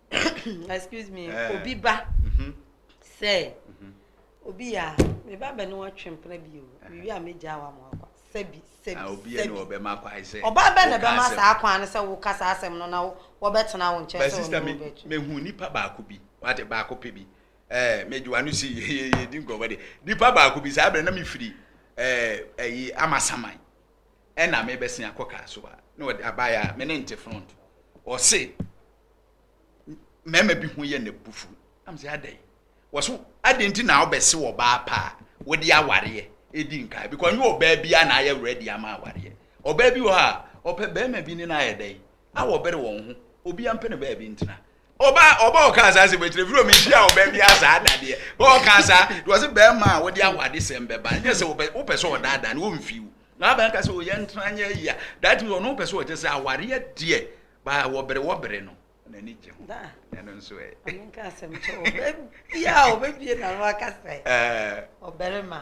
excuse me eh. obi ba mhm. sɛ mhm. obi a meba bɛ ne wɔtwe mpena bi o eh. mewie a megyaa wa mo akwa sɛbi sɛbi ah, sɛbi ɔba bɛ na bɛma saa kwan no sɛ woka saa asɛm no na wɔbɛtena wo nkyɛn sɛ wɔne wobɛtu mehu nipa baako bi wate baako pɛ bi ɛɛ eh, megyewa no si yeyeye di nkɔmɔ de nipa baako bi saa abirɛ na mefiri ɛɛ ɛyi amasaman ɛna me bɛsen akɔ kaa so a na ɔde abaeɛ a me ne nte front ɔse mmarima bi ho yɛ na bufu am sɛ adɛn wɔso adɛn nti na wobɛse wɔ baa paa wode awareɛ ɛdi nkaa because nyɛ ɔbaa bi a na ayɛ ready ama awareɛ ɔbaa bi wɔ hɔ a ɔpɛ bɛrima bi ne no ayɛ dɛn na wɔbere wɔn ho obi ampɛ no baabi ntena ɔba ɔba ɔka saa sɛ bɛtena firi ɔmi hyia ɔbɛn bi asaa dadeɛ bɛ ɔka saa de ɔsɛ bɛrima a wɔde awade sɛm bɛba nyɛ sɛ wɔpɛ wɔpɛ sɛ ɔdaadaa no wɔmfi wo na abɛn ka sɛ ɔyɛ ntena nyɛ ayi a that means ɔno pɛ sɛ ɔkyɛ sɛ awareɛ deɛ baa wɔbere wɔbere no n'ani gye ho ɛno nso ɛ ɔbɛbia ɔbɛbie na no aka sɛ ɔbɛrima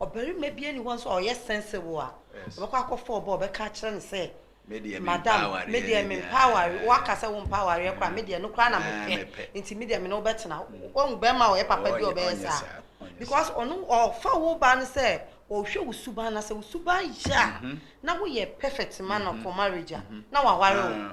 Ɔbarima biara nni hɔ nso a ɔyɛ sense wo a, ɔbɛkɔ akɔfa ɔbaa a ɔbɛka akyerɛ no sɛ, Madam, me deɛ mempɛ awareɛ. Woaka sɛ wompɛ awareɛ koraa a, me deɛ ɛno koraa na mepɛ, nti me deɛ me ne wo bɛtena. Woahu barima a ɔyɛ papa bi a ɔbɛyɛ saa? Because ɔno ɔfa wo ba no sɛ ɔhwɛ wo suban, na sɛ wo suban yɛ a, na woyɛ perfect ma no for marriage a, na waware wo.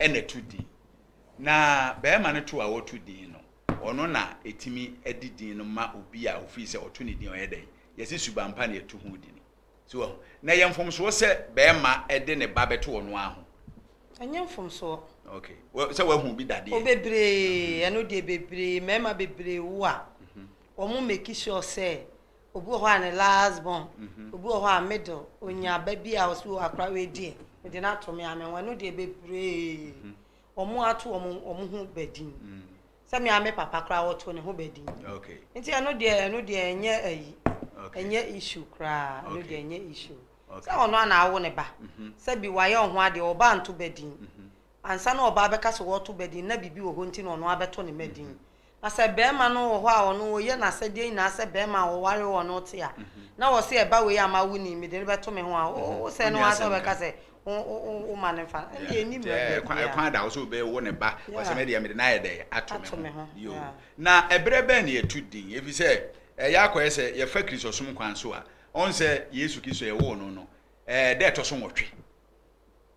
na ɛto din. Na barima no to a wɔto din no, ɔno na ɛtumi de din no ma obi a ofii sɛ ɔto ne din ɔyɛ dɛn? Yɛse subanpa na ɛto ho din. So wahu? Na ɛyɛ mfomsoɔ sɛ barima de ne ba bɛto ɔno ara ho. Ɛnyɛ mfomsoɔ. Okay. Sɛ wahu bi dadeɛ. O bebree, ɛno deɛ bebree, mmarima bebree wo a, wɔn make sure sɛ Obi wɔ hɔ a ne last born, mhm. obi wɔ hɔ a middle, onya ba bi a ɔsi wɔ akora wei deɛ, mede no ato me ame ho, ɛno deɛ bebree. Mhm. Wɔn ato wɔn wɔn ho badin. Mhm. Sɛ me ame papa koraa wɔto ne ho badin. Nti ɛno deɛ ɛno deɛ ɛnyɛ ayi, ɛnyɛ issue koraa, ɛno deɛ ɛnyɛ issue. Sɛ ɔno ana awo ne ba, sɛ bi wayɛ ɔho adeɛ, ɔba anto badin. Ansa na ɔba abɛka sɛ wɔto badin, na biribi wɔ hɔ nti na ɔno abɛto ne badin. Na sɛ barima no wɔ hɔ a ɔno wɔyɛ n'asɛdeɛ nyinaa sɛ barima a ɔwaree ɔno te a, na ɔse ɛba wei a mawo ni, mede no bɛto me ho a, wo wo sɛɛ no ara sɛ wobɛka sɛ wo wo wo ma no mfa no, ɛnneɛ ɛnni mmara mu Ɛɛ, kwan, biara. kwan da hɔ sɛ obe wo ne ba, ɔsɛ Yeah. me deɛ mede no ayɛ dɛn? Ato me Ato me ho. ho. Yo. Yeah. Na ɛberɛ bɛn na yɛtu din? Ɛfiri sɛ, ɛyɛ akɔyɛ sɛ yɛfa Kristosom kwan so a, ɔn sɛ Yesu Kristo yɛwoo no no, ɛɛ, da a ɛtɔ so nwɔtwe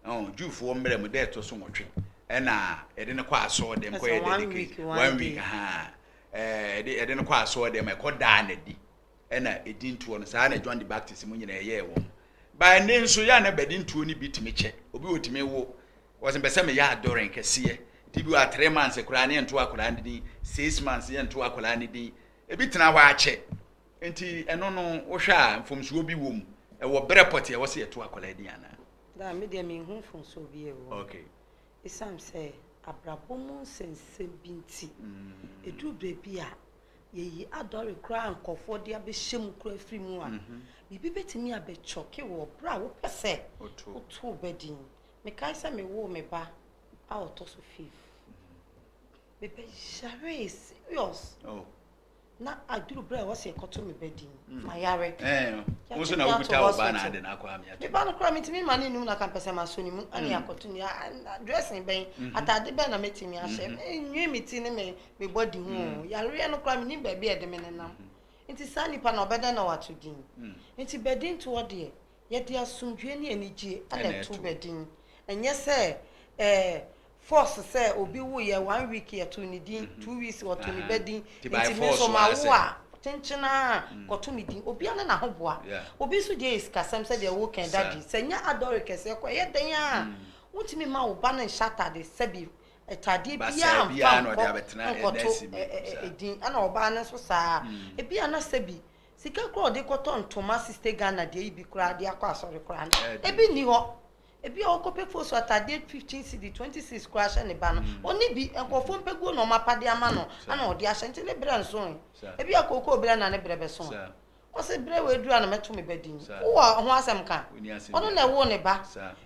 Ɔn Jewfoɔ mmerɛ mu da a ɛtɔ so nwɔtwe ɛna yɛde no kɔ asɔɔ dɛm kɔ yɛ dedication one week ahaa ɛde ɛde no kɔ asɔɔ dɛm ɛkɔ daa na di ɛna ɛdi ntoɔ no saa na John the Baptist mu nyinaa ɛyɛɛ wɔn baa ne nso yɛ na bɛde ntuo no bi tumi kyɛ obi wɔ tumi wo wɔsɛ mpɛ sɛ meyɛ adɔrɛn kɛseɛ ti bi wɔ atere manse koraa ne yɛnto akwadaa no din six months yɛnto akwadaa no din ebi tena hɔ akyɛ Nti ɛno no wohwɛ a mfomsoɔ bi wɔ mu? Ɛwɔ berɛ pɔtee a ɛwɔ sɛ yɛto akwadaa din anaa? Daa, me deɛ menhu mfomsoɔ biara wɔ mu. Okay. Ɛsiane sɛ abrabɔ mu nsɛnsɛm bi nti, ɛduru baabi a yɛyi adɔre koraa a nkurɔfoɔ de abɛhyɛ mu koraa firi mu a, biribi bɛtumi abɛkyɔke wo berɛ a wopɛ sɛ woto wo ba din. Mekae sɛ mewoo me ba a ɔtɔ so fifth, mebɛyaree serious. Oh. Na aduru berɛ a ɛwɔ sɛ yɛkɔto me ba din hmm. ma yare. Wo nso na wokuta wo ba na ade na akɔ amea. Me ba no koraa metumi ma ne num na kampɛ sɛ masɔ ne mu hmm. ne akɔto ne dressing bɛn hmm. ataade bɛn na mɛtumi ahyɛ. Nwi me ti ne me me bɔ di ho. Yareɛ no koraa menim baabi a ɛde me nenam. Nti saa nipa na ɔbɛdɛn na wato din. Nti badin toɔ deɛ Yɛde asomdwoeɛ ne anigyeɛ na ɛto bɛ din. Ɛnyɛ sɛ ɛɛ force sɛ obi woeɛ one week yɛto ne din, two weeks wɔto ne ba din, nti me nso mawo a kyenkyen ara kɔto me din. Obiara ne n'ahoboa. Obi nso deɛ yɛ sikasɛm sɛdeɛ wokae Daddy. Sɛ ɛnyɛ adɔre kɛseɛ kɔ a, ɛyɛ dɛn ara a wontumi mma wo ba no nhyɛ atade sɛbi atadeɛ biara mfa nkɔ nkɔto din, ɛna ɔbaa no nso saa ara. Ebia na sɛbi Sika koraa ɔde kɔtɔ ntoma sixty Ghana deɛ yi bi koraa de akɔ asɔre koraa no ebi nni hɔ ebi a ɔkɔpɛ fosu ataadeɛ fifteen cedi twenty six koraa hyɛ ne ba no mm. ɔne bi nkurɔfoɔ mpɛguo na ɔmo apade ama no ana ɔde ahyɛ nti ne brɛ nso ebi a kookoo brɛ na ne brɛ bɛso ɔsɛ brɛ wɔ adura na mɛto me ba din wowɔ ho asɛm ka ɔno na ɛwoo ne ba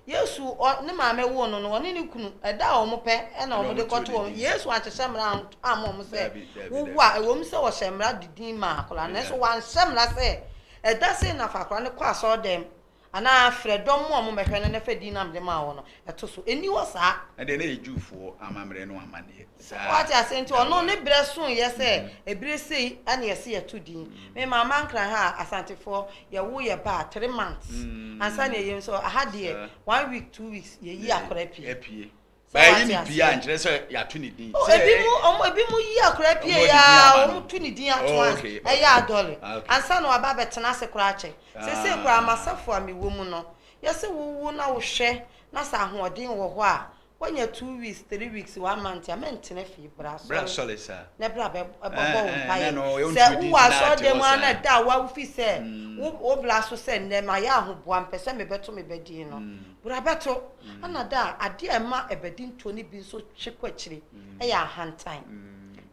Yesu, ɔ, ne maame woo no no, ɔne ne kunu, ɛda a wɔn pɛ na wɔn de kɔto wɔn. Yesu anhyehyɛ mmara an, amma wɔn sɛ, wowo a, ɛwɔ mu sɛ wɔhyɛ mmara de din maa akwadaa no, nanso wanhyɛ mmara sɛ, ɛda sei na fa akwadaa no kɔ asɔredɛm, anaa frɛ dɔm ma wɔn mmɛhwɛ no na fa din no amde maa wɔn no. Ɛto so. Ɛnni hɔ saa. Ɛndeɛ na ɛyɛ Jewfoɔ amammerɛ no amanneɛ. Saa. Wate aseɛ? Nti ɔno ne berɛ soeɛ sɛ ɛberɛ sei ne yɛse yɛto din. Me maama Nkran ha a, Asantefoɔ, yɛwo yɛ ba a, three months ansa na yɛyem. So aha deɛ, one week, two weeks, yɛyi akora pie. Apue. Ba yɛyi ne pie a, nkyerɛ sɛ yɛato ne din. Oh, ebi mu, ɔmo, ebi mu yi akora pie ya, ɔmo to ne din ato ans, ɛyɛ adɔle. Ansa na waba abɛtena ase koraa akyɛ. Sesei koraa, m'asafo a mewɔ mu no, yɛse wowo na wohwɛ na sɛ ahoɔden wɔ hɔ a, Woanya two weeks, three weeks, one month a, mɛntena fie. Bra asɔre. Bra asɔre saa. Na bra bɛ bɛbɔ wo mpaeɛ. Sɛ wowɔ asɔrdan mu ara na da a woawo fi sɛ wo wo bra so sɛ nnɛ mayɛ ahoboa mpɛ sɛ mebɛto me ba din no, bra bɛto. Ɛna da a adeɛ a ɛma ɛbadintoɔ no bi nso twe kɔ akyire yɛ ahantan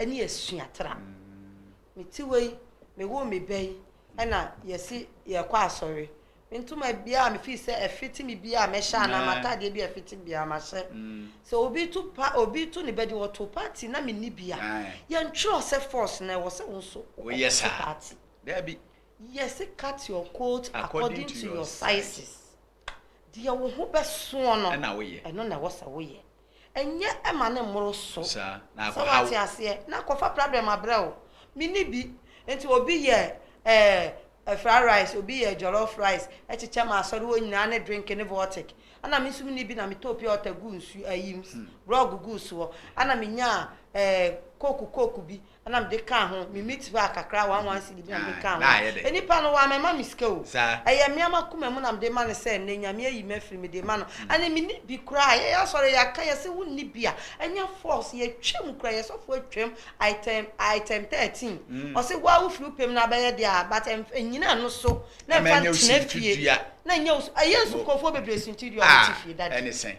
ne asuatra. Me tiwa yi, mewoo me ba yi ɛna yɛse yɛrekɔ asɔre. Me ntoma biara a mefii sɛ ɛfete me biara a mɛhyɛ anaa m'atadeɛ biara a ɛfete me biara mahyɛ. Sɛ obi to pa, obi to ne bɛde ɔtoo party na menni bi a, yɛntwerɛ sɛ force na ɛwɔ sɛ wo nso wokɔkɔto party. Daabi. Yɛse cut your coat according to your sizes. Deɛ wo ho bɛsoɔ no, ɛno na ɛwɔ sɛ woyɛ. Nyɛ ma no mmoro so. Sɛ woate aseɛ. Na kɔfa prado mabrɛ wo. Menni bi. Nti obi yɛ eh, fried rice, obi yɛ jollof rice kyekyɛ ma asɔre hɔ nyinaa ne drink ne vortic. Ɛna me nso menni bi na metɔɔ pure water guu nsuo, ayim, grog guu soɔ. Ɛna menyaa eh, coke coke bi. Ɛna mede kaa ho, me meat pie kakra, one one cedi bi na mede kaa ho. Nipa no wammɛma me sika o. Ɛyɛ me ara m'akoma mu na mede ma no sɛ nnɛ Nyame ayi me afiri, mede rema no. Ɛne menni bi koraa. Yɛyɛ asɔre, yɛaka, yɛse wonni bi a, ɛnyɛ force. Yɛtwam koraa, yɛn sɔfoɔ atwam item, item thirteen. Ɔse wo ara wofiri wo pɛ mu na abɛyɛ deɛ a, but nnyina ɛno so na mfa ntena fie. Na ɛnyɛ wo, ɛyɛ nsukuafoɔ bebree suntidua a wɔte fie, Daddy.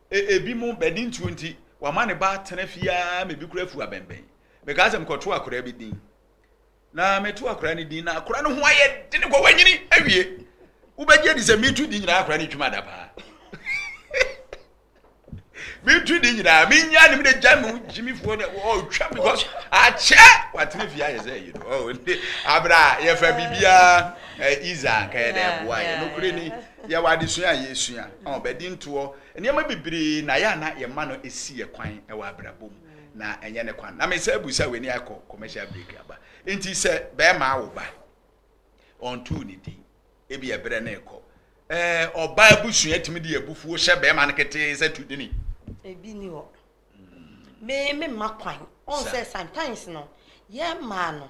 Ebinom, bɛde ntuo nti, wɔama ne ba atena fie ara ma ebi koraa afu abɛnbɛn. Mekaa sɛ mekɔtoo akwadaa bi din, na metoo akwadaa no din, na akwadaa no ho ayɛ den kɔ, wanyini awie. Wobɛgye adi sɛ metu din nyinaa akwadaa no twam ada paa. Metu din nyinaa, menya ne mede gya mu gyimifoɔ no, ɔtwam because akyɛ watena fie ayɛ sɛ yi no. Oh, nti abere a yɛfa biribiara eh, Iza anka yɛde ɛboa yɛ. Nokorɛ ni, Yɛwɔ adesua a yɛresua a ɔba di ntoɔ. Nneɛma bebree na ɛyɛ a na yɛma no si yɛn kwan wɔ abrabɔ mu, na ɛnyɛ ne kwan. Na me nsa abu sɛ wei ne akɔ commercial break aba. Nti sɛ barima awo ba, ɔntoo ne din, ebi ɛberɛ no rekɔ. Ɛɛ, ɔbaa abusua tumi de abufuo hyɛ barima no ketee sɛ tu dini. Ebi ni hɔ. Me me ma kwan ɔn sɛ sometimes no yɛ maa no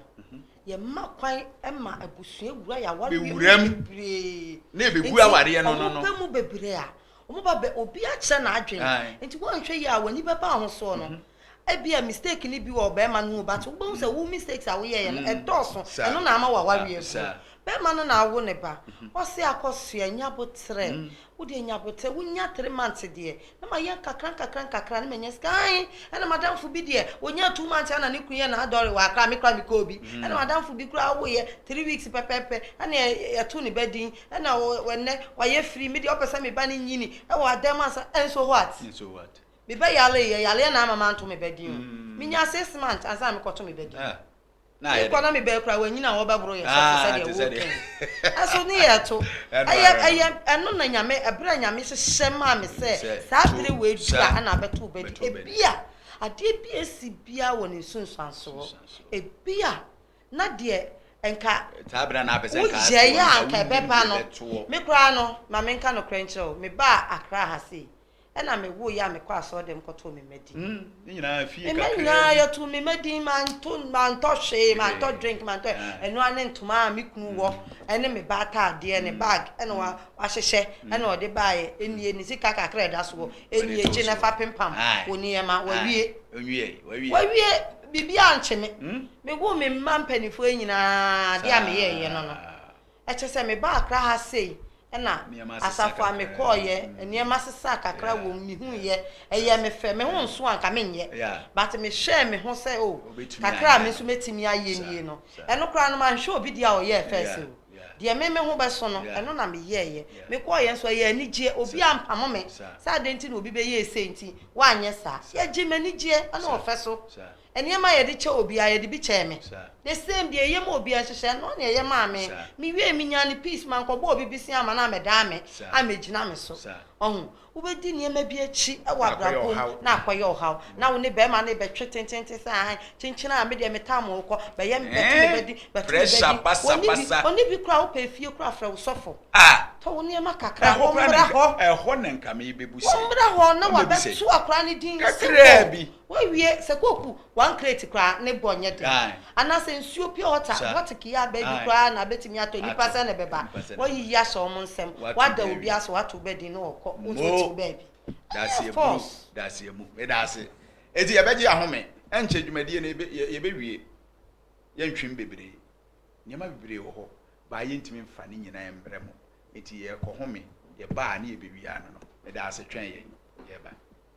yɛ ma kwan ma abusua wura yɛ awari mu bebree na ebe gu awari yɛ no no no ɔmo mu bebree a ɔmo ba bɛ obi akyerɛ na adwen nti wɔn nhwɛ yie a wɔn ani bɛ ba ho soɔ no. Mhm. ebi a mistake ni bi wɔ ɔbɛrima no ho but wobɛhu sɛ wo mistakes a woyɛ yɛ no mm. ɛdɔɔso ɛno na ama wawareɛ bu bɛrima no na awo ne ba mhm. ɔse akɔsoɛ nya boterɛ mm. Wo deɛ nya aboterɛ wo nya three months deɛ na ma yɛ nkakra nkakra nkakra na ma nya sika ae ɛna madamfo bi deɛ ɔnya two months ɛna ne kunu yɛ na adɔre waa koraa me koraa me kɔɔ bi ɛna madamfo bi koraa wo yɛ three weeks pɛpɛpɛ ɛna yɛto ne ba din ɛna ɛnɛ wayɛ free me deɛ ɔpɛ sɛ me ba no nyini ɛwɔ adan mu ansa and so what me bɛ yare yɛ yareɛ na ama manto me ba din o me nya six months ansa na me kɔto me ba din. na ayɛ dɛ. Mekɔ na mebɛn koraa wanyin a wɔbɛboro yɛn sɔfo sɛdeɛ woka yi ɛso ne yɛ to ɛyɛ ɛyɛ ɛno na nyame ɛberɛ a nyame hyehyɛ maa me sɛ saa bere wei bia ɛna abɛto bɛdi ebia adeɛ bi esi bia wɔ ne nsunsuansoɔ ebia na deɛ nka woyɛyɛ a nka ɛbɛba no me koraa no ma menka nokorɛ nkyerɛ wo mebaa akra ha sei Ɛna me woo yɛ a me kɔ asɔr dɛm kɔ too me mma din. Mm ne nyinaa fie kakraa bi. Mma nyinaa yɛ too me mma din ma nto ma ntɔ hwee ma ntɔ drink ma ntɔ ɛno ara ne ntoma a me kunu wɔ ɛne me ba ataadeɛ ne bag ɛna wa wa hyehyɛ ɛna ɔde baa yɛ ɛnie ne sika kakraa ɛda so wɔ ɛnie gye na fa pempam wɔ ne yɛ ma wa wie wa wie biribi ankye me me woo me mma mpaninfoɔ yi nyinaa adeɛ a me yɛ yɛ no no. Ɛkyerɛ sɛ mebaa Accra ha sei na asafo a mekɔɔeɛ nneɛma sesaa kakra wɔ mu, mehuuiɛ, ɛyɛɛ me fɛ, me ho nso anka menyɛ but mehwɛɛ me ho sɛ oh kakra a me nso mɛtumi ayɛ nie no, ɛno koraa no manhwɛ obi deɛ a ɔyɛɛ first o, deɛ me me ho bɛso no ɛno na meyɛeɛ, mekɔɔeɛ nso ɛyɛ anigyeɛ, obiara ampamo me sɛ adɛn nti na obi bɛyɛɛ sei nti woanyɛ saa, yɛgyee m'anigyeɛ ne ɔfɛ so, Nneɛma a yɛde kyɛ obiara, yɛde bi kyɛɛ me. The same deɛ ɛyɛ ma obiara nso, hyɛ noɔ na ɛyɛ maa me. Me wiee me nyaa no peace, mankɔbɔ obi bisia ama no amɛdaa me, amɛgyina me so. Wahu? Wo bɛdi nneɛma bi akyi wɔ abrabɔ mu na akɔyɛ ɔhaw. Na wo ne barima no rebɛtwe tententen sɛ ahan, kyenkyen a, me deɛ me tam wo kɔ, bɛyɛ me, bɛto me badi, bɛto me badi. Ɔnni bi, ɔnni bi koraa a, wopɛ efie koraa a, frɛ wo sɔfo. Tɔ wo nneɛma kakra, ɔmmra hɔ. Ɔmmra hɔ na wabɛto akwadaa no din, simple. Woawie sɛ kooku one crate koraa ne bɔ nyɛ den anaasɛ nsuo pure water bɔteke a baabi koraa na bɛtumi atɔ nnipa sɛn na ɛbɛba woayiyi ahyɛ wɔn nsam woada obi ase woato wo bɛdin na wɔkɔ wo nso wote wo baabi ɛyɛ force. Medaase. Enti yɛbɛgye ahome. Ɛnkyɛ dwumadie no yɛbɛwie. Yɛntwem bebree. Nneɛma bebree wɔ hɔ baa yɛntumi mfa ne nyinaa mmerɛ mo. Enti yɛrekɔhome. Yɛba a ne yɛbɛwie ano no. Medaase twɛn yɛn. Yɛreba.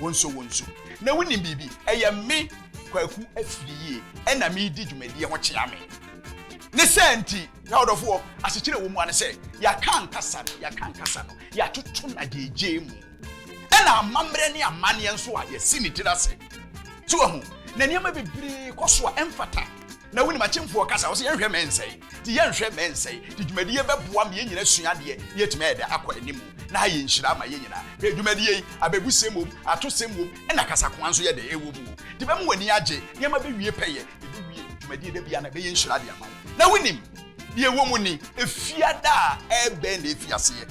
Wo nso, wo nso. Na wonim biribi? Ɛyɛ me, Kwaku Afiriyie, ɛna meredi dwumadie ho kyea me. Ne saa nti, N'adɔfoɔ, asekyerɛ a ɛwɔ mu ara ne sɛ, yɛaka ankasa no, yɛaka ankasa no, yɛatoto no agyeigyei mu. Ɛna amammerɛ ne amanneɛ nso a yɛasi ne tiri ase. So woahu? Na nneɛma bebree kɔ so a ɛmfata. Na wonim akyemfoɔ kasa, ɔse yɛnhwɛ mɛ nsɛe, nti yɛnhwɛ mɛ nsɛe, nti dwumadie yi bɛboa ma yɛn nyina asua adeɛ na yɛatumi ayɛ dɛ akɔ anim, na ha yɛ nhyira ama yɛn nyina. Hwɛ dwumadie yi, abɛbusɛm wom, atosɛm wom, ɛna kasakoa nso yɛ dɛ ɛwɔ mu o, nti bɛma w'ani agye, nneɛma bɛwie pɛyɛ, yɛbɛwie dwumadie da biara na ɛbɛyɛ nhyira de ama wo. Na wonim deɛ ɛwɔ mu ni, ɛfiada a ɛbɛn na ɛfi aseɛ?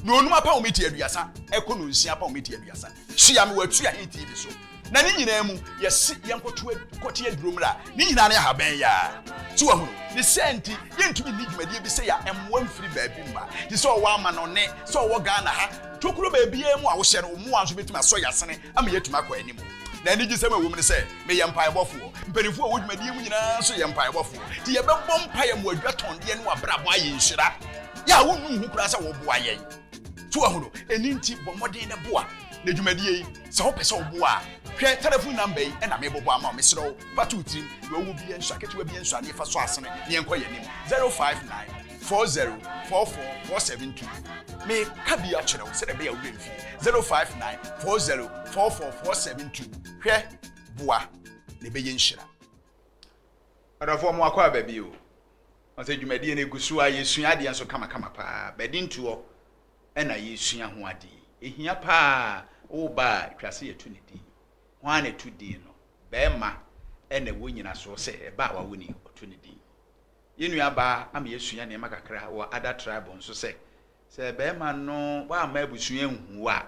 Na onum apɔwmiti aduasa ɛkɔ no nsia apɔwmiti aduasa. Tua me wɔ atua he TV so. Na ne nyinaa mu, yɛse yɛnkɔto kɔte aduro mmra. Ne nyinaa ne ahaban yaa. So wahunu? Ne saa nti, yɛntumi nni dwumadie bi sɛ ya mmoa mfiri baabi mma. Te sɛ ɔwɔ amanɔne, sɛ ɔwɔ Ghana ha, tokuro baabiara mu a wohyɛ no, wo mmoa nso bɛtumi asɔ ya sene ama yɛatumi akɔ anim. Na anigyesɛm a ɛwɔ mu ne sɛ, meyɛ mpaebɔfoɔ. Mpanimfoɔ a ɛwɔ dwumadie mu nyinaa nso yɛ mpaebɔfoɔ. Nti yɛbɛbɔ mpaeɛ ma wɔadwa tɔndeɛ ne wɔabrabɔ ayɛ nhyira. Yɛ a wonnu ho koraa sɛ wɔboa yɛn. So wahu no? Ɛno nti bɔ mmɔden na boa. Na dwumadie yi, sɛ wopɛ sɛ woboa a, hwɛ telefon namba yi na mebobɔ ama wo. Mesrɛ wo, fa to wo tirim. Deɛ ɔwɔ biara nsua, ketewa biara nsua, na yɛfa so asene na yɛnkɔ yɛn anim. 059. four zero four four four seven two me ka bi akyerɛ wo sɛdeɛ ɛbɛyɛ a wobɛ mfie zero five nine four zero four four four seven two hwɛ boa na ɛbɛyɛ nhyira ɔdɔfoɔ mo akɔ aba bi o ɔsɛ dwumadie no ɛgu so a yɛsua adeɛ nso kamakama paa bɛde ntoɔ ɛna yɛsua ho adeɛ ɛhia paa woba a twa se yɛto ne din ho a na ɛto din no bɛɛma ɛna ɛwɔ nyinasoɔ sɛ ɛba a wawo ni ɔto ne din Yɛn nuabaa ama yɛasua nneɛma kakra wɔ Ada Tribe nso sɛ, sɛ barima no wamma abusua anhu wo a,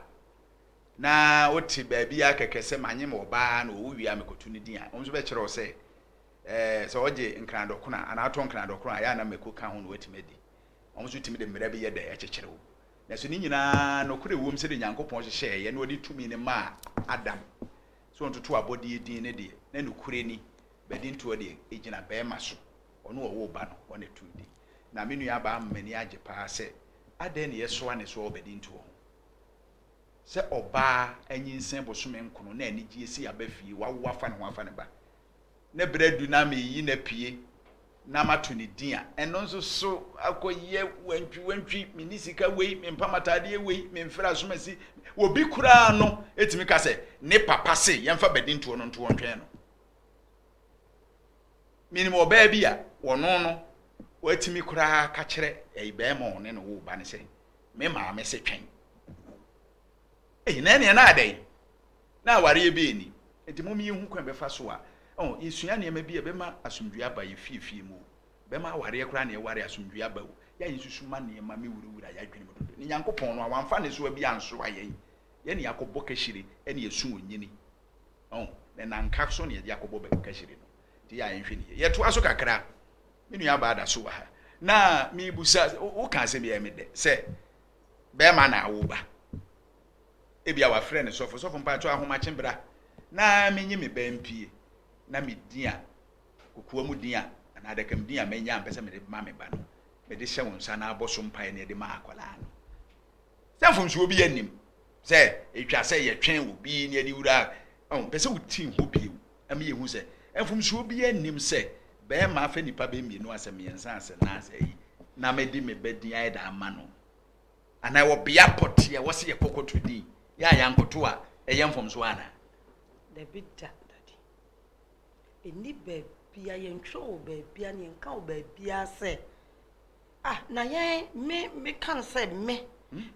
na wote baabi ara kɛkɛ sɛ manye me ɔbaa na ɔwu wie a mekɔto ne din a, wo nso bɛkyerɛ wo sɛ, ɛɛ, sɛ ɔgye nkradɔkono anaa ɔtɔ nkradɔkono a, ɛyɛ a na mako ka ho na watumi adi. Wɔn nso tumi de mmara bi yɛ dɛn kyekyere wo. Nanso ne nyinaa nokorɛ wom sɛdeɛ Nyankopɔn hyehyɛeɛ na ɔde tumi no maa Adam sɛ ɔntoto abɔdeɛ din no deɛ, na nokorɛ ni. Badintoɔ deɛ, ɛgyina barima so. Ɔno a ɔwoo ba no, ɔno na ɛtoo din. Na me nuabaa ama m'ani agye pa ara sɛ, adɛn na yɛsoa ne soɔ wɔ Badintoɔ ho? Sɛ ɔbaa anyinsɛn bosome nkono na anigyeɛ si aba fie, wawo afa ne ho afa ne ba, ne berɛ adu na mereyi no apue na mato ne din a, ɛno nso so akɔyɛ wantwiwantwi, menni sika wei, mempam ataadeɛ wei, memfiri asomasi. Obi koraa no tumi ka sɛ, ne papa se yɛmfa Badintoɔ no nto ɔntwɛn no. Menim ɔbaa bi a ɔno no watumi koraa aka kyerɛ ɛyi bɛrima a ɔne no woo ba no sɛ, me maame se twɛn. Ei, na ɛneɛ na adɛn? Na awareɛ bi ani. Nti mom yɛhu kwan bɛfa so a, oh, yɛsua nneɛma bi a ɛbɛma asomdwie aba yɛ fiefie mu o. Bɛma awareɛ koraa na yɛware asomdwie aba o. Yɛ a yɛnsusu ma nneɛma me wurawura yɛ adwene mu dodo. Ne Nyankopɔn no a, wamfa nnesoa bi ansoa yɛn. Yɛne yɛakɔbɔ kahyire ne yɛasu onnyini. Ɔho, ne nanka so na yɛde akɔbɔ Bagukahyire no. Nti yɛ a yɛnhwɛ no yie. Yɛtoa so kakra. Me nua baa da so wɔ ha. Na mebusa, woka asɛm bi a ɛyɛ me dɛ sɛ bɛrima na awo ba. Ebia wafrɛ no sɔfo, sɔfo mpakyɛw ahomakye bra na menye me ba mpie na me din a, kokoam din a anaa adakam din a manya a mpɛ sɛ mede bɛma me ba no, mede hyɛ wo nsa na abɔ so mpaeɛ na yɛde ma akwadaa no. Sɛ mfomsoɔ biara nnim. sɛ etwa sɛ yɛtwɛn obi ne aniwura a ɔmpɛ sɛ oti ho bio ma yehu sɛ mfomsoɔ biara nnim sɛ barima afɛ nnipa bɛyɛ mmienu asɛ mmiɛnsa asɛ nan asɛ ayi na mede me ba din ayɛ da ama no anaa wɔ bea pɔteɛ wɔ se yɛkɔkɔto din yɛ a yɛankɔto a ɛyɛ mfomsoɔ anaa dabi da dade ɛni baabia yɛntwerɛ wɔ baabia ne yɛnka wɔ baabia sɛ Ah na yɛn me me ka no sɛ me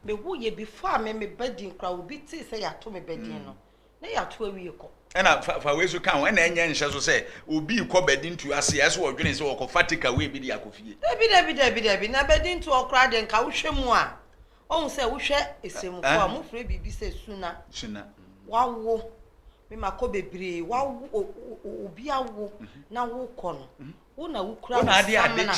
me wo yɛ before a me me ba din koraa obi tee sɛ yɛato me ba din no na yɛato awie kɔ. Ɛna fa fa wei so ka ho ɛna ɛnyɛ nhyɛ so sɛ obi kɔ badi ntu ase a ɛsɛ ɔdwene sɛ ɔkɔfa take away bi de akɔ fie. Dabi dabi dabi dabi na badi ntu hɔ koraa deɛ nka wohwɛ mu a ɔhu sɛ wohwɛ esemufo a mofrɛ biribi sɛ suna suna wawo me makɔ bebree wawo obi awo na wokɔ no Wo na wokura wo samena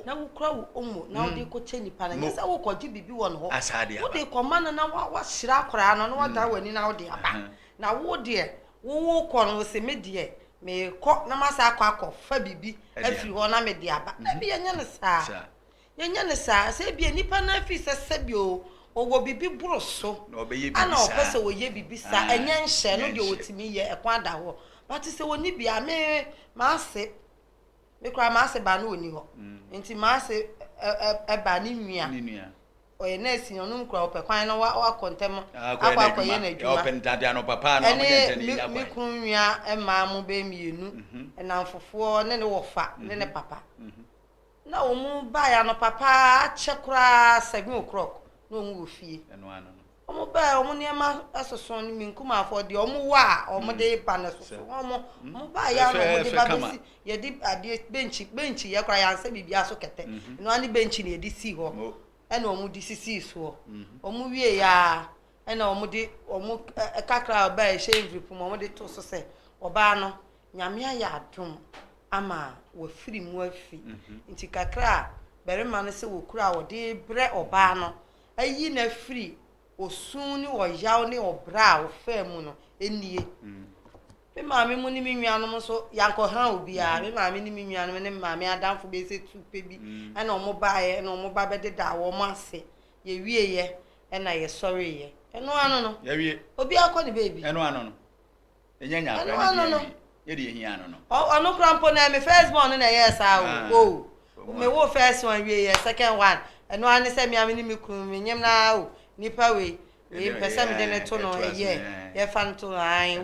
na wokura wo omo na wode rekɔkyɛ nipa no, ɛnyɛ sɛ worekɔgye biribi wɔ ne hɔ. Wode rekɔma no na wahyira akwadaa no na wadan w'ani na wode aba. Na wo deɛ, wo worekɔ no, wo se me deɛ merekɔ na masan akɔ akɔfa biribi afiri hɔ na mede aba. Dabi, ɛnyɛ no saa. Yɛnyɛ no saa, sɛ ebia nnipa no ara fi sɛ sɛdeɛ o, wɔwɔ biribi boro so, Na wɔbɛyɛ ɛna biribi wɔpɛ saa. sɛ wɔyɛ biribi saa, Ah, ɛnyɛ nhyɛ, ɛno nyɛ deɛ nhyɛ. wɔtumi yɛ, ɛkwan da hɔ. But sɛ wɔnni bi a, me, m'ase, me koraa m'ase baa no ɔnni hɔ. Nti m'ase ɛ, ɛ, ɛbaa ne nua, Ne nua. ɔyɛ nurse ni, ɔno nkura, ɔpɛ kwan na wa, wakɔ ntɛm Ah, akɔyɛ akɔ akɔyɛ n'adwuma. n'adwuma. Ɔpɛ ntade anɔpa paa na ɔbɛyɛ ntɛm ɛne na me, ɛnya me kwan. kunu nua mmaa mo bɛyɛ mmienu, nnamfofoɔ ne ne wɔfa ne ne papa. Na wɔn baeɛ anɔpa paa akyɛ koraa seven o'clock na wɔn wɔ fie. Wɔn baeɛ wɔn nneɛma soso no me nkumafoɔ deɛ wɔn wɔ a wɔn de ba no soso wɔn wɔn baeɛ a na wɔn de ba bɛsi yɛde adeɛ bɛnkyi bɛnkyi yɛ koraa yɛansɛ biribi aso kɛtɛ ɛno ara ne bɛnkyi na yɛde si hɔ ɛna wɔn de sisi soɔ wɔn wie yɛ a ɛna wɔn de wɔn kakra a ɔbaa ɛhyɛ nviri pom wɔn de to so sɛ ɔbaa no Nyame ayɛ adom ama wafiri mu afi nti kakra a barima no sɛ wɔkura a wɔde brɛ ɔbaa no ayi no afiri osu ne ɔyaw ne ɔbrɛ a ɔfaa mu no nie me maame mu ne me nuanom nso yankɔha obiara me maame ne me nuanom ne maame adamfo bɛyɛ sɛ tu pɛ bi ɛna wɔn baeɛ ɛna wɔn ba bɛdedaa wɔn ase yɛwieɛ ɛna yɛsɔreeɛ ɛno ano no obiara kɔ ne baabi ɛno ano no Ɛno ano no. Ɔno koraa mpo no ɛyɛ me first born no na ɛyɛɛ saa o. Oh, me woo first one wie yɛ second one. Ɛno ara ne sɛ me a me ne me kunu me nyem no ara o, nipa wei, wei mpɛ sɛ me de no to no ɛyɛ, yɛ fa no to no ae o,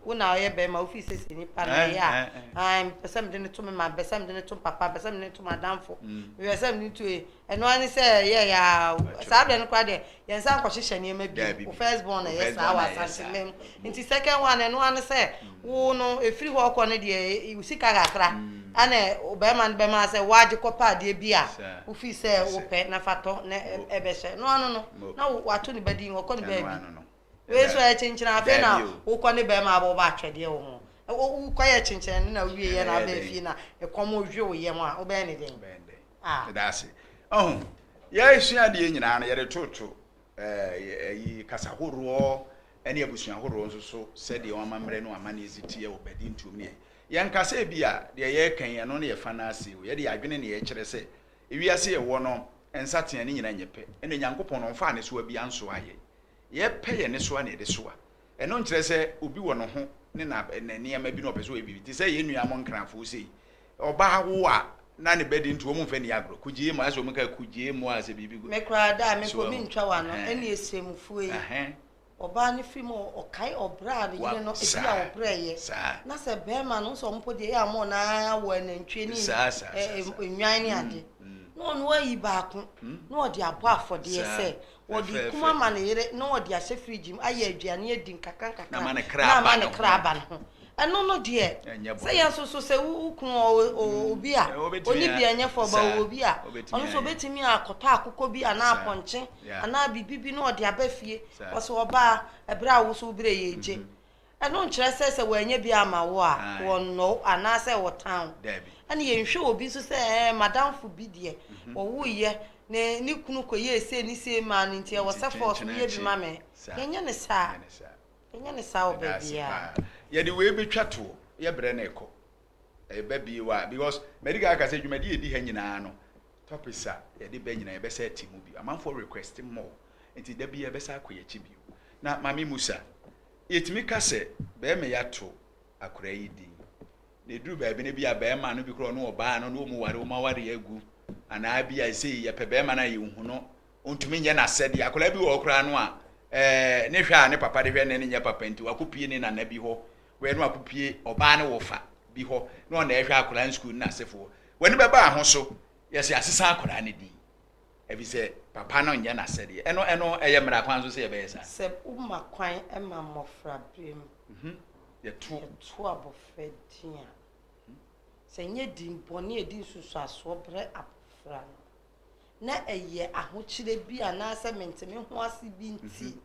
wo na ɔyɛ bɛɛma wo fii sɛsi nipa no ɛyɛ a, ae me pɛ sɛ me de no to me ma, me pɛ sɛ me de no to papa, me pɛ sɛ me de no to madamfo, me pɛ sɛ me de no to e, ɛno ara ne sɛ ɛyɛɛ aa o, saa berɛ no koraa deɛ Yɛn nsa nkɔ hyehyɛ nneɛma bio. Wo first born na ɛyɛ saa wɔ Asante mma mu. Nti second one no ɛno ara ne sɛ wo no ɛfiri hɔ rekɔ no deɛ wo sika kakra ɛna barima no bɛma sɛ wagye kɔ pɛ adeɛ bi a wo feel sɛ wo pɛ na fa tɔ na ɛbɛhyɛ. Ɛno ano no na wo ato ne ba din ɔkɔ ne baabi. Wei nso ɛyɛ kyenkyene afei na wo kɔ ne barima abɔ bɔ atwɛdeɛ wɔ ho. Wo kɔ yɛ kyenkyene no na wo wie yɛ na aba fie na ɛkɔm dwe wo yam a wo bɛyɛ ne dɛn? a. Yɛda ase. Ɔho, yɛresua adeɛ nyinaa no, yɛde toto eh, ayi, kasa horoɔ ne abusua horoɔ nso so sɛdeɛ wɔn amammerɛ ne wɔn amanneɛ si teɛ wɔ Badi ntuom ne yɛn. Yɛnka sɛ ebi a, deɛ yɛreka yi, ɛno ne yɛfa no ase o. Yɛde yɛn adwene na yɛkyerɛ sɛ, ewiase yɛwɔ no, nsateaa ne nyinaa nyɛ pɛ, ɛna Nyankopɔn no, ɔmfaa nnesoa biara nsoaa yɛn. Yɛpɛ yɛn nnesoa na yɛde soa, Ɛno nkyerɛ sɛ obi wɔ ne ho ne na ne nneɛma bi na ɔpɛ sɛ ɔyɛ biribi. Te sɛ yɛn nuanom Nkrafo sei, ɔbaa wo a na ne ba din nti wɔmfa nni agorɔ. Kugyee mu a, ɛsɛ wɔn ka kugyee mu a sɛ biribi gu. Me koraa da a me mpo mentwa w'ano Ɛhɛn. ne Ɔsiramufoɔ yi. Ɛhɛn. Ɔbaa no firi mu a ɔkae ɔbrɛ a ne Wa, yere no di a saa, ɔbrɛeɛ. saa. Na sɛ barima no, wo sɛ wɔn mpo deɛ ɛyɛ a wɔn na ara wɔ anantwie ne Saa, saa, ɛ, saa, ɛ, saa. nnwan ne Mm, ade. mm. Na ɔno ayi baako, Mm. na ɔde abɔ afɔdeɛ Saa. sɛ Ɔde kum ama ne yere na ɔde ahyɛ fridge mu ayɛ aduane adi nkakrankakra na ama ne kra aba ne ho. Ɛno no deɛ, sɛ yɛn nso so sɛ wo kunu ɔwɔ obi a ɔne bi nyɛ fɔ ba ɔwɔ obi a, ɔno nso ɔbɛtumi akɔtɔ akokɔ bi anaa apɔnkye anaa biribi bi na ɔde aba fie. Ɔsɛ ɔbaa ɛberɛ a wo nso wo berɛ yɛ regye. Ɛno nkyerɛ sɛ sɛ wɔannya bi amma wo a, wɔnnɔ wo anaasɛ wɔtan wo. Ɛnna yɛnhwɛ obi nso sɛ, Ɛɛ, m'adamfo bi deɛ, ɔwoeɛ, na ne kunu kɔyɛɛ sei ne sei maa no nti, ɛwɔ sɛ force woyɛ bi ma me. Yɛnyɛ no saa. Yɛnyɛ no saa wɔ baabiara. Yɛde wei bɛtwa toɔ. Yɛ berɛ na ɛkɔ. Ɛba bi wɔ a, because madi kan aka sɛ dwumadi a ɛdi ha nyinaa no, topics a yɛde ba nyinaa yɛbɛsan ati mu bio. Amanfoɔ request more, nti da biara yɛbɛsan akɔ yɛn akyi bio. Na Maame Musa, Yɛtumi ka sɛ barima yi ato akoraa yi din, na ɛduru baabi no ebia barima no bi koraa ɔne ɔbaa no na wɔn ware, wɔn awareɛ agu, anaa ebia sei yɛpɛ barima no a yɛnhu no, ɔntumi nyɛ n'asɛdeɛ. Akoraa bi wɔ hɔ koraa no a ɛɛ ne hwɛ a ne papa de hwɛ no nyɛ papa nti wakɔpue ne nana bi hɔ, wei na wakɔpue ɔbaa ne wɔfa bi hɔ na ɔna ɛhwɛ akoraa no sukuu ne n'asefoɔ. W'ani bɛba ho so, yɛse asesa akoraa no din. Efisɛ papa no nyɛ n'asɛdeɛ. Ɛno, ɛno, ɛyɛ mmara kwan so sɛ yɛbɛyɛ saa. Sɛ woma kwan ma mmɔfraberem mhm. yɛto yɛto abɔfra din a, mhm. sɛ nyɛ din bɔne a ɛdi nsusuasoɔ berɛ abɔfra no, na ɛyɛ ahokyerɛ bi anaasɛ mente me ho ase bi nti, mhm.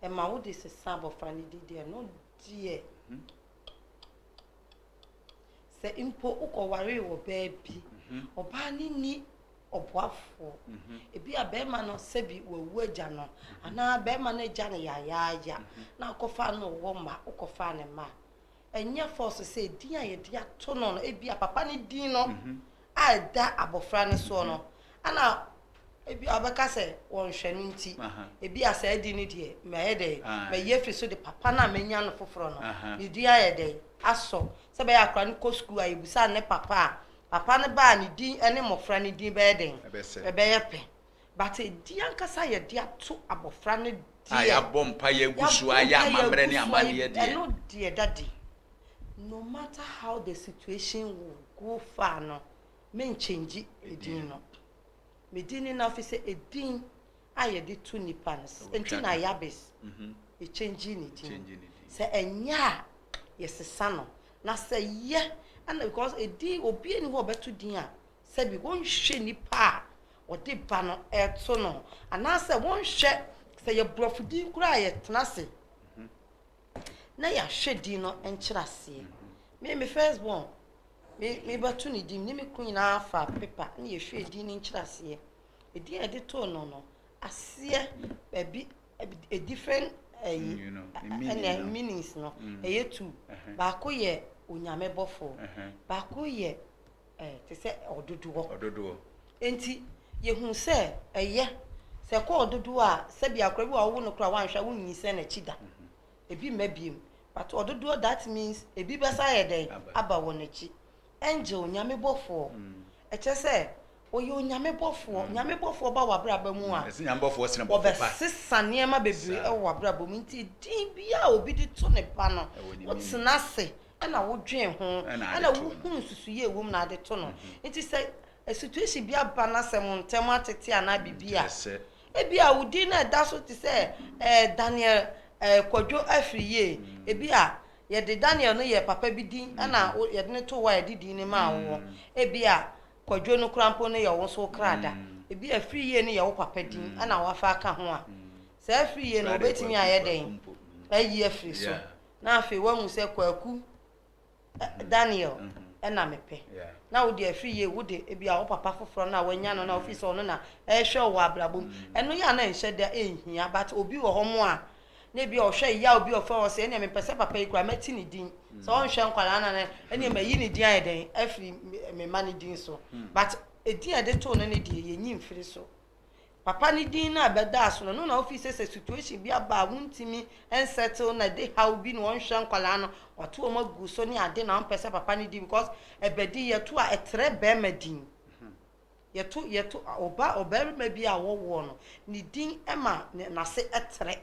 ɛma wode sesa abɔfra no din deɛ, ɛno deɛ Sɛ mpo wokɔwaree wɔ baabi, ɔbaa no nni ɔboafoɔ. Ebia barima no sɛbi wawu agya no, anaa barima no agya no yayaaya, na wokɔfaa no na ɔwɔ mma, wokɔfaa ne mma a, ɛnyɛ fɔɔso sɛ edin a yɛde ato no no, ebia papa no din no a ɛda abɔfra no soɔ no, ɛna ebi a ɔbɛka sɛ wɔnhwɛ no nti, ebi a saa di no deɛ mayɛ dɛn, mayi afiri so de papa no a manya no foforɔ no, ne din ayɛ dɛn, asɔ. Sɛ ɛbɛyɛ akora no kɔ sukuu a, yɛbisa ne papa a, papa no ba a ne din ne mmɔfra no din bɛyɛ dɛn, ɛbɛyɛ pɛ. But ɛdin ankasa a yɛde ato abɔfra no deɛ. A yɛabɔ mpaeɛ agu so ayɛ amammerɛ ne amanneɛ deɛ. Ɛno deɛ ɛda adi. No matter how the situation will go far no, menkyɛngyi ɛdin no. Me din ne Nafi sɛ ɛdin a yɛde to nnipa no. Ɛnti na Yabes, yɛkyɛngyii ne din. Sɛ ɛnyɛ a, yɛsesa no. Na sɛ yɛ, ɛna because ɛdin, obiara nni hɔ a ɔbɛto din a sɛbi wɔnhwɛ nipa a wɔde ba no to no anaasɛ wɔnhwɛ sɛ yɛ borɔfo din koraa a yɛtena ase na yɛahwɛ din no nkyerɛ aseɛ me me first born me mebɛto ne din ne me kunu nyinaa fa pepa na yɛhwɛ din no nkyerɛ aseɛ ɛdin a yɛde too no no aseɛ baabi a different ɛyi ɛna meanings no ɛyɛ two baako yɛ onyame bɔfoɔ baako yɛ Ɛɛ, te sɛ ɔdodoɔ. Ɔdodoɔ. Enti yɛhu sɛ ɛyɛ sɛ ɛkɔ ɔdodoɔ a sɛbi akora bi wɔ awowo no koraa wanhwɛ a wonyinsɛn n'akyi da. Mhm. Ebi mma biem. But ɔdodoɔ that means ebi bɛsa ayɛ dɛn? Aba wɔn akyi. Angel, nyame bɔfoɔ. Mm. Ɛkyɛ sɛ ɔyɛ onyame bɔfoɔ. Mm. Nyame bɔfoɔ ba w'abrabɔ mu a. Ɛsɛ nyame bɔfoɔ sene bɔfo pa. Ɔbɛsesa nneɛma bebree wɔ w'abrabɔ mu. Nti din biara obi de to ne ba no, wotena ase na wodwen ho na wohu nsusuiɛ ɛwɔ mu na ade to no nti sɛ a situation bi aba na sɛ mo ntɛm atete anaa biribi a ebi a wodin na ɛda so te sɛ ɛɛ Daniel ɛɛ kwadwo afiri yie ebi a yɛde Daniel no yɛ papa bi din ɛna yɛde no to hɔ a yɛde din no maa wo ebi a kwadwo no kora mpo no yɛ wo nso krada ebi a afiri yie no yɛ wo papa din ɛna wafa aka ho a sɛ afiri yie no wobɛtumi ayɛ dɛn ayi afiri so na afei woahu sɛ kwaku ɛ- daniel ɛna mepɛ Yeah. na wode afiri yie wode ebia wo papa foforɔ no a wanya no na wofiri sɛ ɔno na ɛhwɛ wo wɔ abrabɔ mu ɛno yɛ a na ɛnhyɛ da ɛnhia but obi wɔ hɔ mo a na ebia ɔhwɛ yɛ a obi ɔfrɛ wɔ sɛ ɛneɛ mepɛ sɛ papa yi koraa mɛte ne din sɛ ɔnhwɛ nkwadaa no no ɛneɛ mayi ne din ayɛ dɛn afiri me- me ma ne din so but ɛdin a ɛde too no ne deɛ yɛnyi mfiri so Papa ne din no a bɛdaa so no, no na ofi sɛ sɛ situation bi aba a wontumi nsettle na ɛde haw bi na ɔnhwɛ nkwadaa no, wato wɔn agu so ne ade na ɔmpɛ sɛ papa ne din because ɛbɛ din yɛto a ɛtrɛ barima din. Yɛto yɛto ɔba ɔbarima bi a wɔwoɔ no ne din ma n'ase trɛ.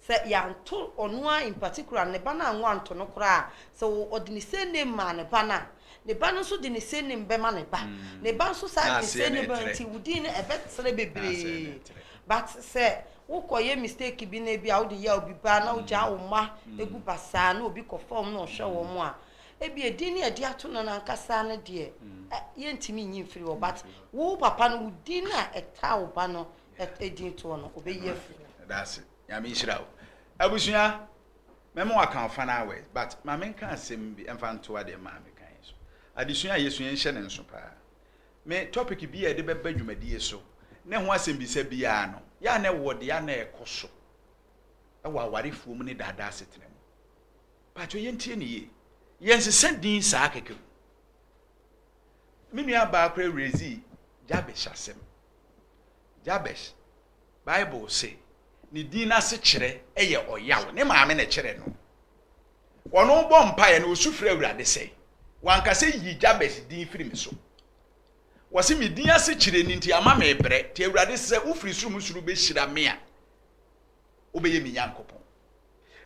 Sɛ yɛanto ɔno ara in particular no, ne ba no anwo anto no koraa a, sɛ ɔ, ɔde ne surname maa ne ba no a, ne ba no nso de ne surname bɛma ne ba. Ne ba nso saa de ne surname bɛma, nti wo din no ɛbɛtrɛ bebree. But sɛ wokɔyɛ mistake bi na ebi a wode yɛ obi ba na wogyaa wo mma gu basaa na obi kɔ fam na ɔhwɛ wɔn a, ebi a din no a yɛde ato no no ankasa no deɛ, ɛ, yɛntumi nyi mfiri hɔ. But wo papa no, wo din no a ɛtaa wo ba no, edin toɔ no, ɔbɛyi afiri mu. Medase. Nyame nhyira wo. Abusua, mɛma waka wo final words but ma menka asɛm bi ɛmfa ntoa deɛ maame ka yi so. Adesua a yɛsua yi nhyɛ ne nso paa. Me topic biaa yɛde bɛba dwumadie so ne ho asɛmbisa biaa no, yɛ a na ɛwɔ deɛ a na ɛkɔ so wɔ awarefoɔ mu ne daadaa asetena mu. Paatwɔ yɛntie no yie. Yɛnsesa din saa kɛkɛ o. Me nua baa koraa werɛ dzii Jabesh asɛm. Jabesh, Bible se ne dzin no asekyerɛ yɛ Ɔyaw. Ne maame na kyerɛɛ no. Ɔno bɔ mpaeɛ no, ɔsu frɛ Awurade sɛ, Wanka sɛ yi Jabesh din firi me so. Wɔse me din asekyerɛ ni nti ama mebrɛ. Nti Awurade sɛ wofiri soro mu soro bɛhyira me a, wobɛyɛ me Nyankopɔn.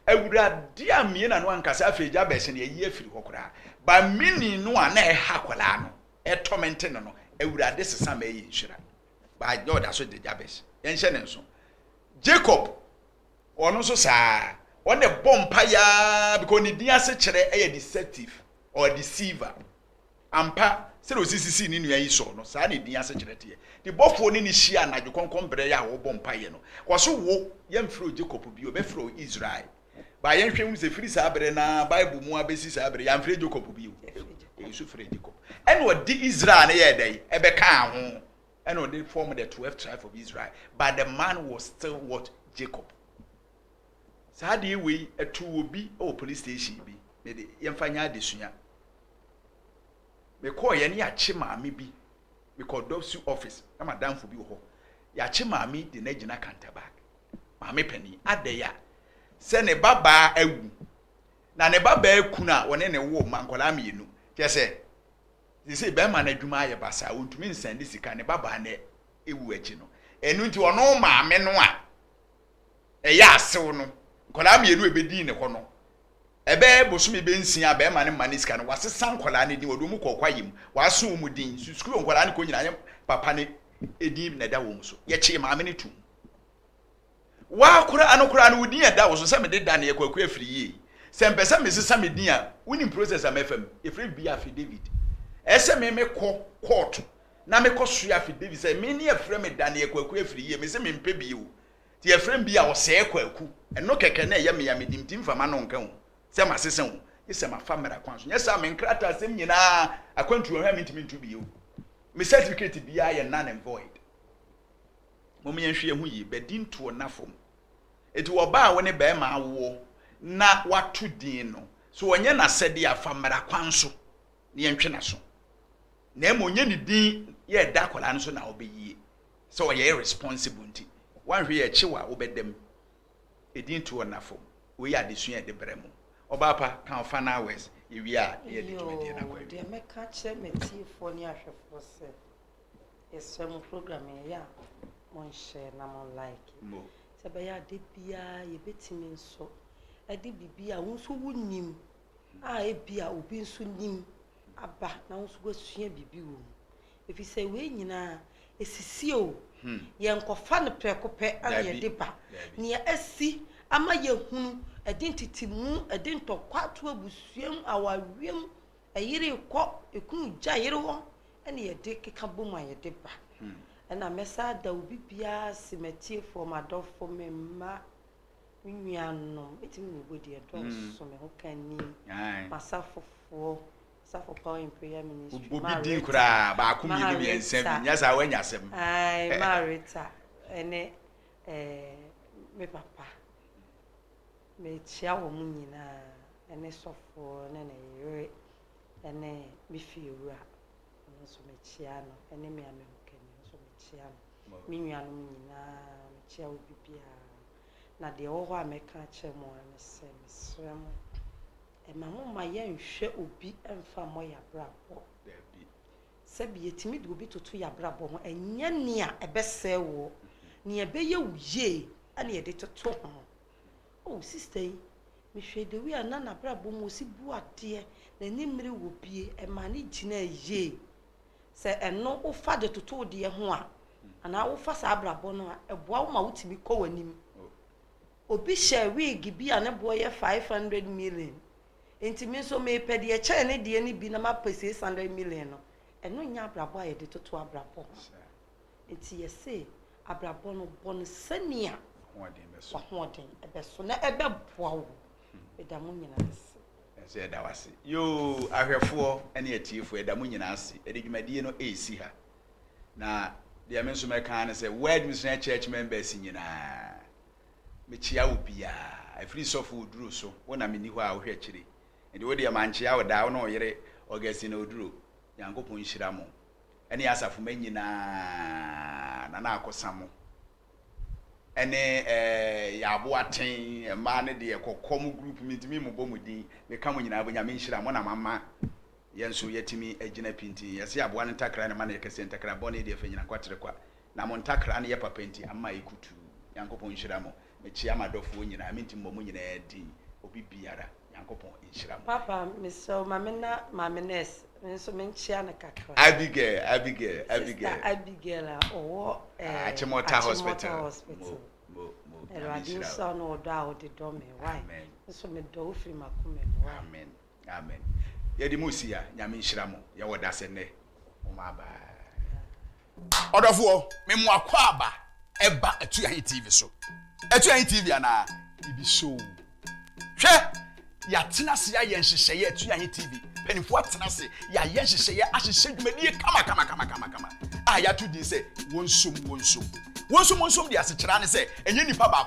Awurade ammue n'ano anka sɛ, Afei Jabes, nea ayi afiri hɔ koraa, ba mini no a na ɛha akwadaa no, ɛtɔmɛnte no no, Awurade sesa ma ɛyɛ nhyira. Ba na ɔda so de Jabes. Yɛnhyɛ ne nso. Jacob, ɔno nso saa ara. Ɔno deɛ bɔ mpaeɛ ara because ne din ase kyerɛ ɛyɛ deceptive or deceiver. Ampa, sɛdeɛ ɔsi sisii ne nua yi soɔ no, saa na edin asekyerɛ teɛ. Ne bɔfoɔ ne no hyia anadwo kɔnkɔn berɛ yɛ a ɔrebɔ mpaeɛ no. Ɔse, Wo, yɛmfrɛ wo Jacob bio, bɛfrɛ wo Israel. Ba yɛnhwɛ nhunu sɛ firi saa berɛ no ara, Bible mu ara bɛsi saa berɛ yi, amfrɛ Jacob bio. Egu so frɛ Jacob. Ɛna ɔde Israel no yɛɛ dɛn? Ɛbɛkaa ho. Ɛna ɔde formed the twelve tribes of Israel, but the man was still what? Jacob. Saa adeɛ wei ɛtoo obi wɔ police station bi me de yɛmfa nyɛ adesua mekɔɔeɛ ne yɛakye maame bi mekɔɔ dɔsu office na madamfo bi wɔ hɔ yɛakye maame de no agyina kantabag maame panin adɛn a sɛ ne babaa awu na ne babaa kunu a wɔne ne wo ma nkwadaa mmienu kyɛ sɛ sese bɛrima no adwuma ayɛ basaa ɔntumi nsan ne sika ne babaa no ewu akyi no ɛnu nti ɔno maame no a ɛyɛ asew no, nkwadaa mmienu a ebedii ne hɔ no, ɛbɛyɛ bosome bɛnsia a bɛrema no mma ne sika no, wɔasesa nkwadaa no din, wɔde wɔn kɔɔ kwaeɛ mu, wɔaso wɔn din, nso sukuu a nkwadaa no kɔ nyinaa yɛ papa no edin na ɛda wɔn so. Yɛkyee maame no tum. Waa koraa no koraa no wo din a ɛda wo so sɛ mede da no yɛ kwaku afiri yie. Sɛ mpɛ sɛ mesesa me din a, wonim process a mɛfa mu. Yɛfrɛ biribi affidavit. Ɛsɛ me mekɔ kɔɔto Na me kɔ soa fi David sɛ, Me ne yɛfrɛ me Daniel Kwaku Afiriyie, me se mempɛ bi o, nti yɛfrɛ me bi a Ɔsɛɛ Kwaku, ɛno kɛkɛ na ɛyɛ me a menim nti mfa m'ano nka o, sɛ masesa o, gye sɛ mafa mmara kwan so, nyɛ saa a me nkrataa sɛm nyinaa akwantuo ho a mentumi nto bio, me certificate biara yɛ null and void. Mom yɛnhwɛ yɛn ho yie, bɛdi ntoɔ nna fam. Nti ɔbaa a wo ne barima awoɔ na wato din no, sɛ ɔnyɛ n'asɛdeɛ a fa mmara kwan so na yɛntwe n'aso, na mmom nyɛ ne din yɛ ɛda akwadaa no so na ɔbɛyie sɛ ɔyɛ irresponsible nti woanhwɛ yɛ akyi wa wobɛda mu ɛdin tuo nna fam wei yɛ adesua a ɛde brɛ mo ɔbaa pa ka ɔfa no hours yɛwie a na yɛde dwumadie no akɔ awie mɛka kyerɛ matiefoɔ ne ahwɛfoɔ sɛ yɛsrɛ mo program yɛyɛ a monhyɛ na mo like sɛ bɛyɛ ade biara yɛbɛtumi nso ɛde biribi a wo nso wonim a ebia obi nso nim aba na wo nso woasua biribi wɔ mu ɛfiri sɛ wei nyinaa ɛsisie o hmm. yɛnkɔfa no prɛko pɛ ana yɛde ba nea asi ama yɛhunu ɛde ntetemu ɛde ntɔkwa to abusuam awareɛm ɛyere kɔ ɛkunu gya yere hɔ ɛne yɛde keka bom a yɛde ba hmm. ɛna mɛsa da obi biara se matiefoɔ madɔfo me mma Me nuanom, eti me nubo deɛ ɛdɔɔso, me ho ka ni, m'asafofoɔ, asafo power in prayer ministry, ma rita, ma rita, ayi, ma rita, ɛne ɛɛ me papa, me kyia wɔn mu nyinaa, ɛne sɔfoɔ, ɛne ne yere, ɛne me fie wura, ɛno nso me kyia no, ɛne me ame ho ka ni, ɛno nso me kyia no, me nuanom nyinaa, me kyia obi biara. Na deɛ ɛwɔ hɔ a mɛka akyerɛ mo ara ne sɛ, mesrɛ mo, mma momma yɛnnhwɛ obi mmfa mmɔ yɛn abrabɔ. Sɛbi yɛtumi de obi toto yɛn abrabɔ ho, ɛnyɛ nea ɛbɛsɛe woɔ, nea ɛbɛyɛ wo yie na yɛde toto ho. O, oh, sista yi, mehwɛɛ Dewi a na n'abrabɔ mu osi bu adeɛ, n'ani mmere wɔ bie, ɛmaa ne gyinaa yie. Sɛ ɛno wofa de toto wo deɛ ho a, anaa wofa saa abrabɔ no a, ɛboa wo ma wotumi kɔ w'anim. Obi hyɛ wiigi bi a ne boɔ yɛ 500 million, nti me nso mepɛ deɛ ɛkyɛn ne deɛ no bi na mapɛ 600 million no. Ɛno nyɛ abrabɔ a yɛde toto abrabɔ ho. Nti yɛse abrabɔ no, bɔ no sɛnea w'ahoɔden bɛso na ɛbɛboa wo. Meda mo nyinaa ase. Nso yɛda wo ase yoo ahwɛfoɔ ne atiefoɔ yɛda mo nyinaa ase yɛde dwumadie no resi ha na deɛ me nso mɛka ne sɛ word missionary church members nyinaa mekyia wo biaa ɛfiri sɔfo oduro so wo na menni hɔ a wohwɛ akyire nti wo deɛ mankyia wo daa wo ne ɔyere Augustine oduro nyankopɔn nhyira mo ɛne asafo ma nyinaa na na akɔsa mo ne yɛ aboa ten mmaa no deɛ kɔkɔ mo group mentumi mobɔ mo din meka mo nyinaa bɔ nyame nhyira mo na mama yɛn nso yɛtumi agyina pintinn yɛse aboa no ntakra ne ma no yɛ kɛseɛ ntakra bɔne deɛ fanyina kwa tere kwa na mo ntakra no yɛ papa nti ama yɛ kutuu nyankopɔn nhyira mo mekyea madɔfoɔ nyinaa mentumi mɔ mo nyinaa din obi biara Nyankopɔn nhyira mo. Papa, mesrɛ wo ma me na Maame Nurse me nso menkyea no kakra. Abigail, Abigail, Abigail. Sister Abigail a ɔwɔ eh, Achimota Hospital. Hospital. Mo, mo, mo, Nyame Awurade nhyira nhyira wo na ɔdɔ a wode dɔ me. Why? Amen. Nso medɔ wo firi m'akoma mu. Why? Amen, amen. Yɛde mo si ha, Nyame nhyira mo. Yɛwɔ dasɛ nnɛ. Ɔdɔfoɔ, me moa kɔ aba ɛba Atuahe TV so. Atuahe TV anaa? Ibi so. Hwɛ! Yɛatena ase ayɛ nhyehyɛeɛ Atuahe TV. Mpanimfoɔ atena ase, yɛayɛ nhyehyɛeɛ ahyehyɛ dwumadie kama kama kama kama kama a yɛato din sɛ wɔnsom wɔnsom. Wɔnsom wɔnsom deɛ asekyerɛ ne sɛ ɛnyɛ nipa baako.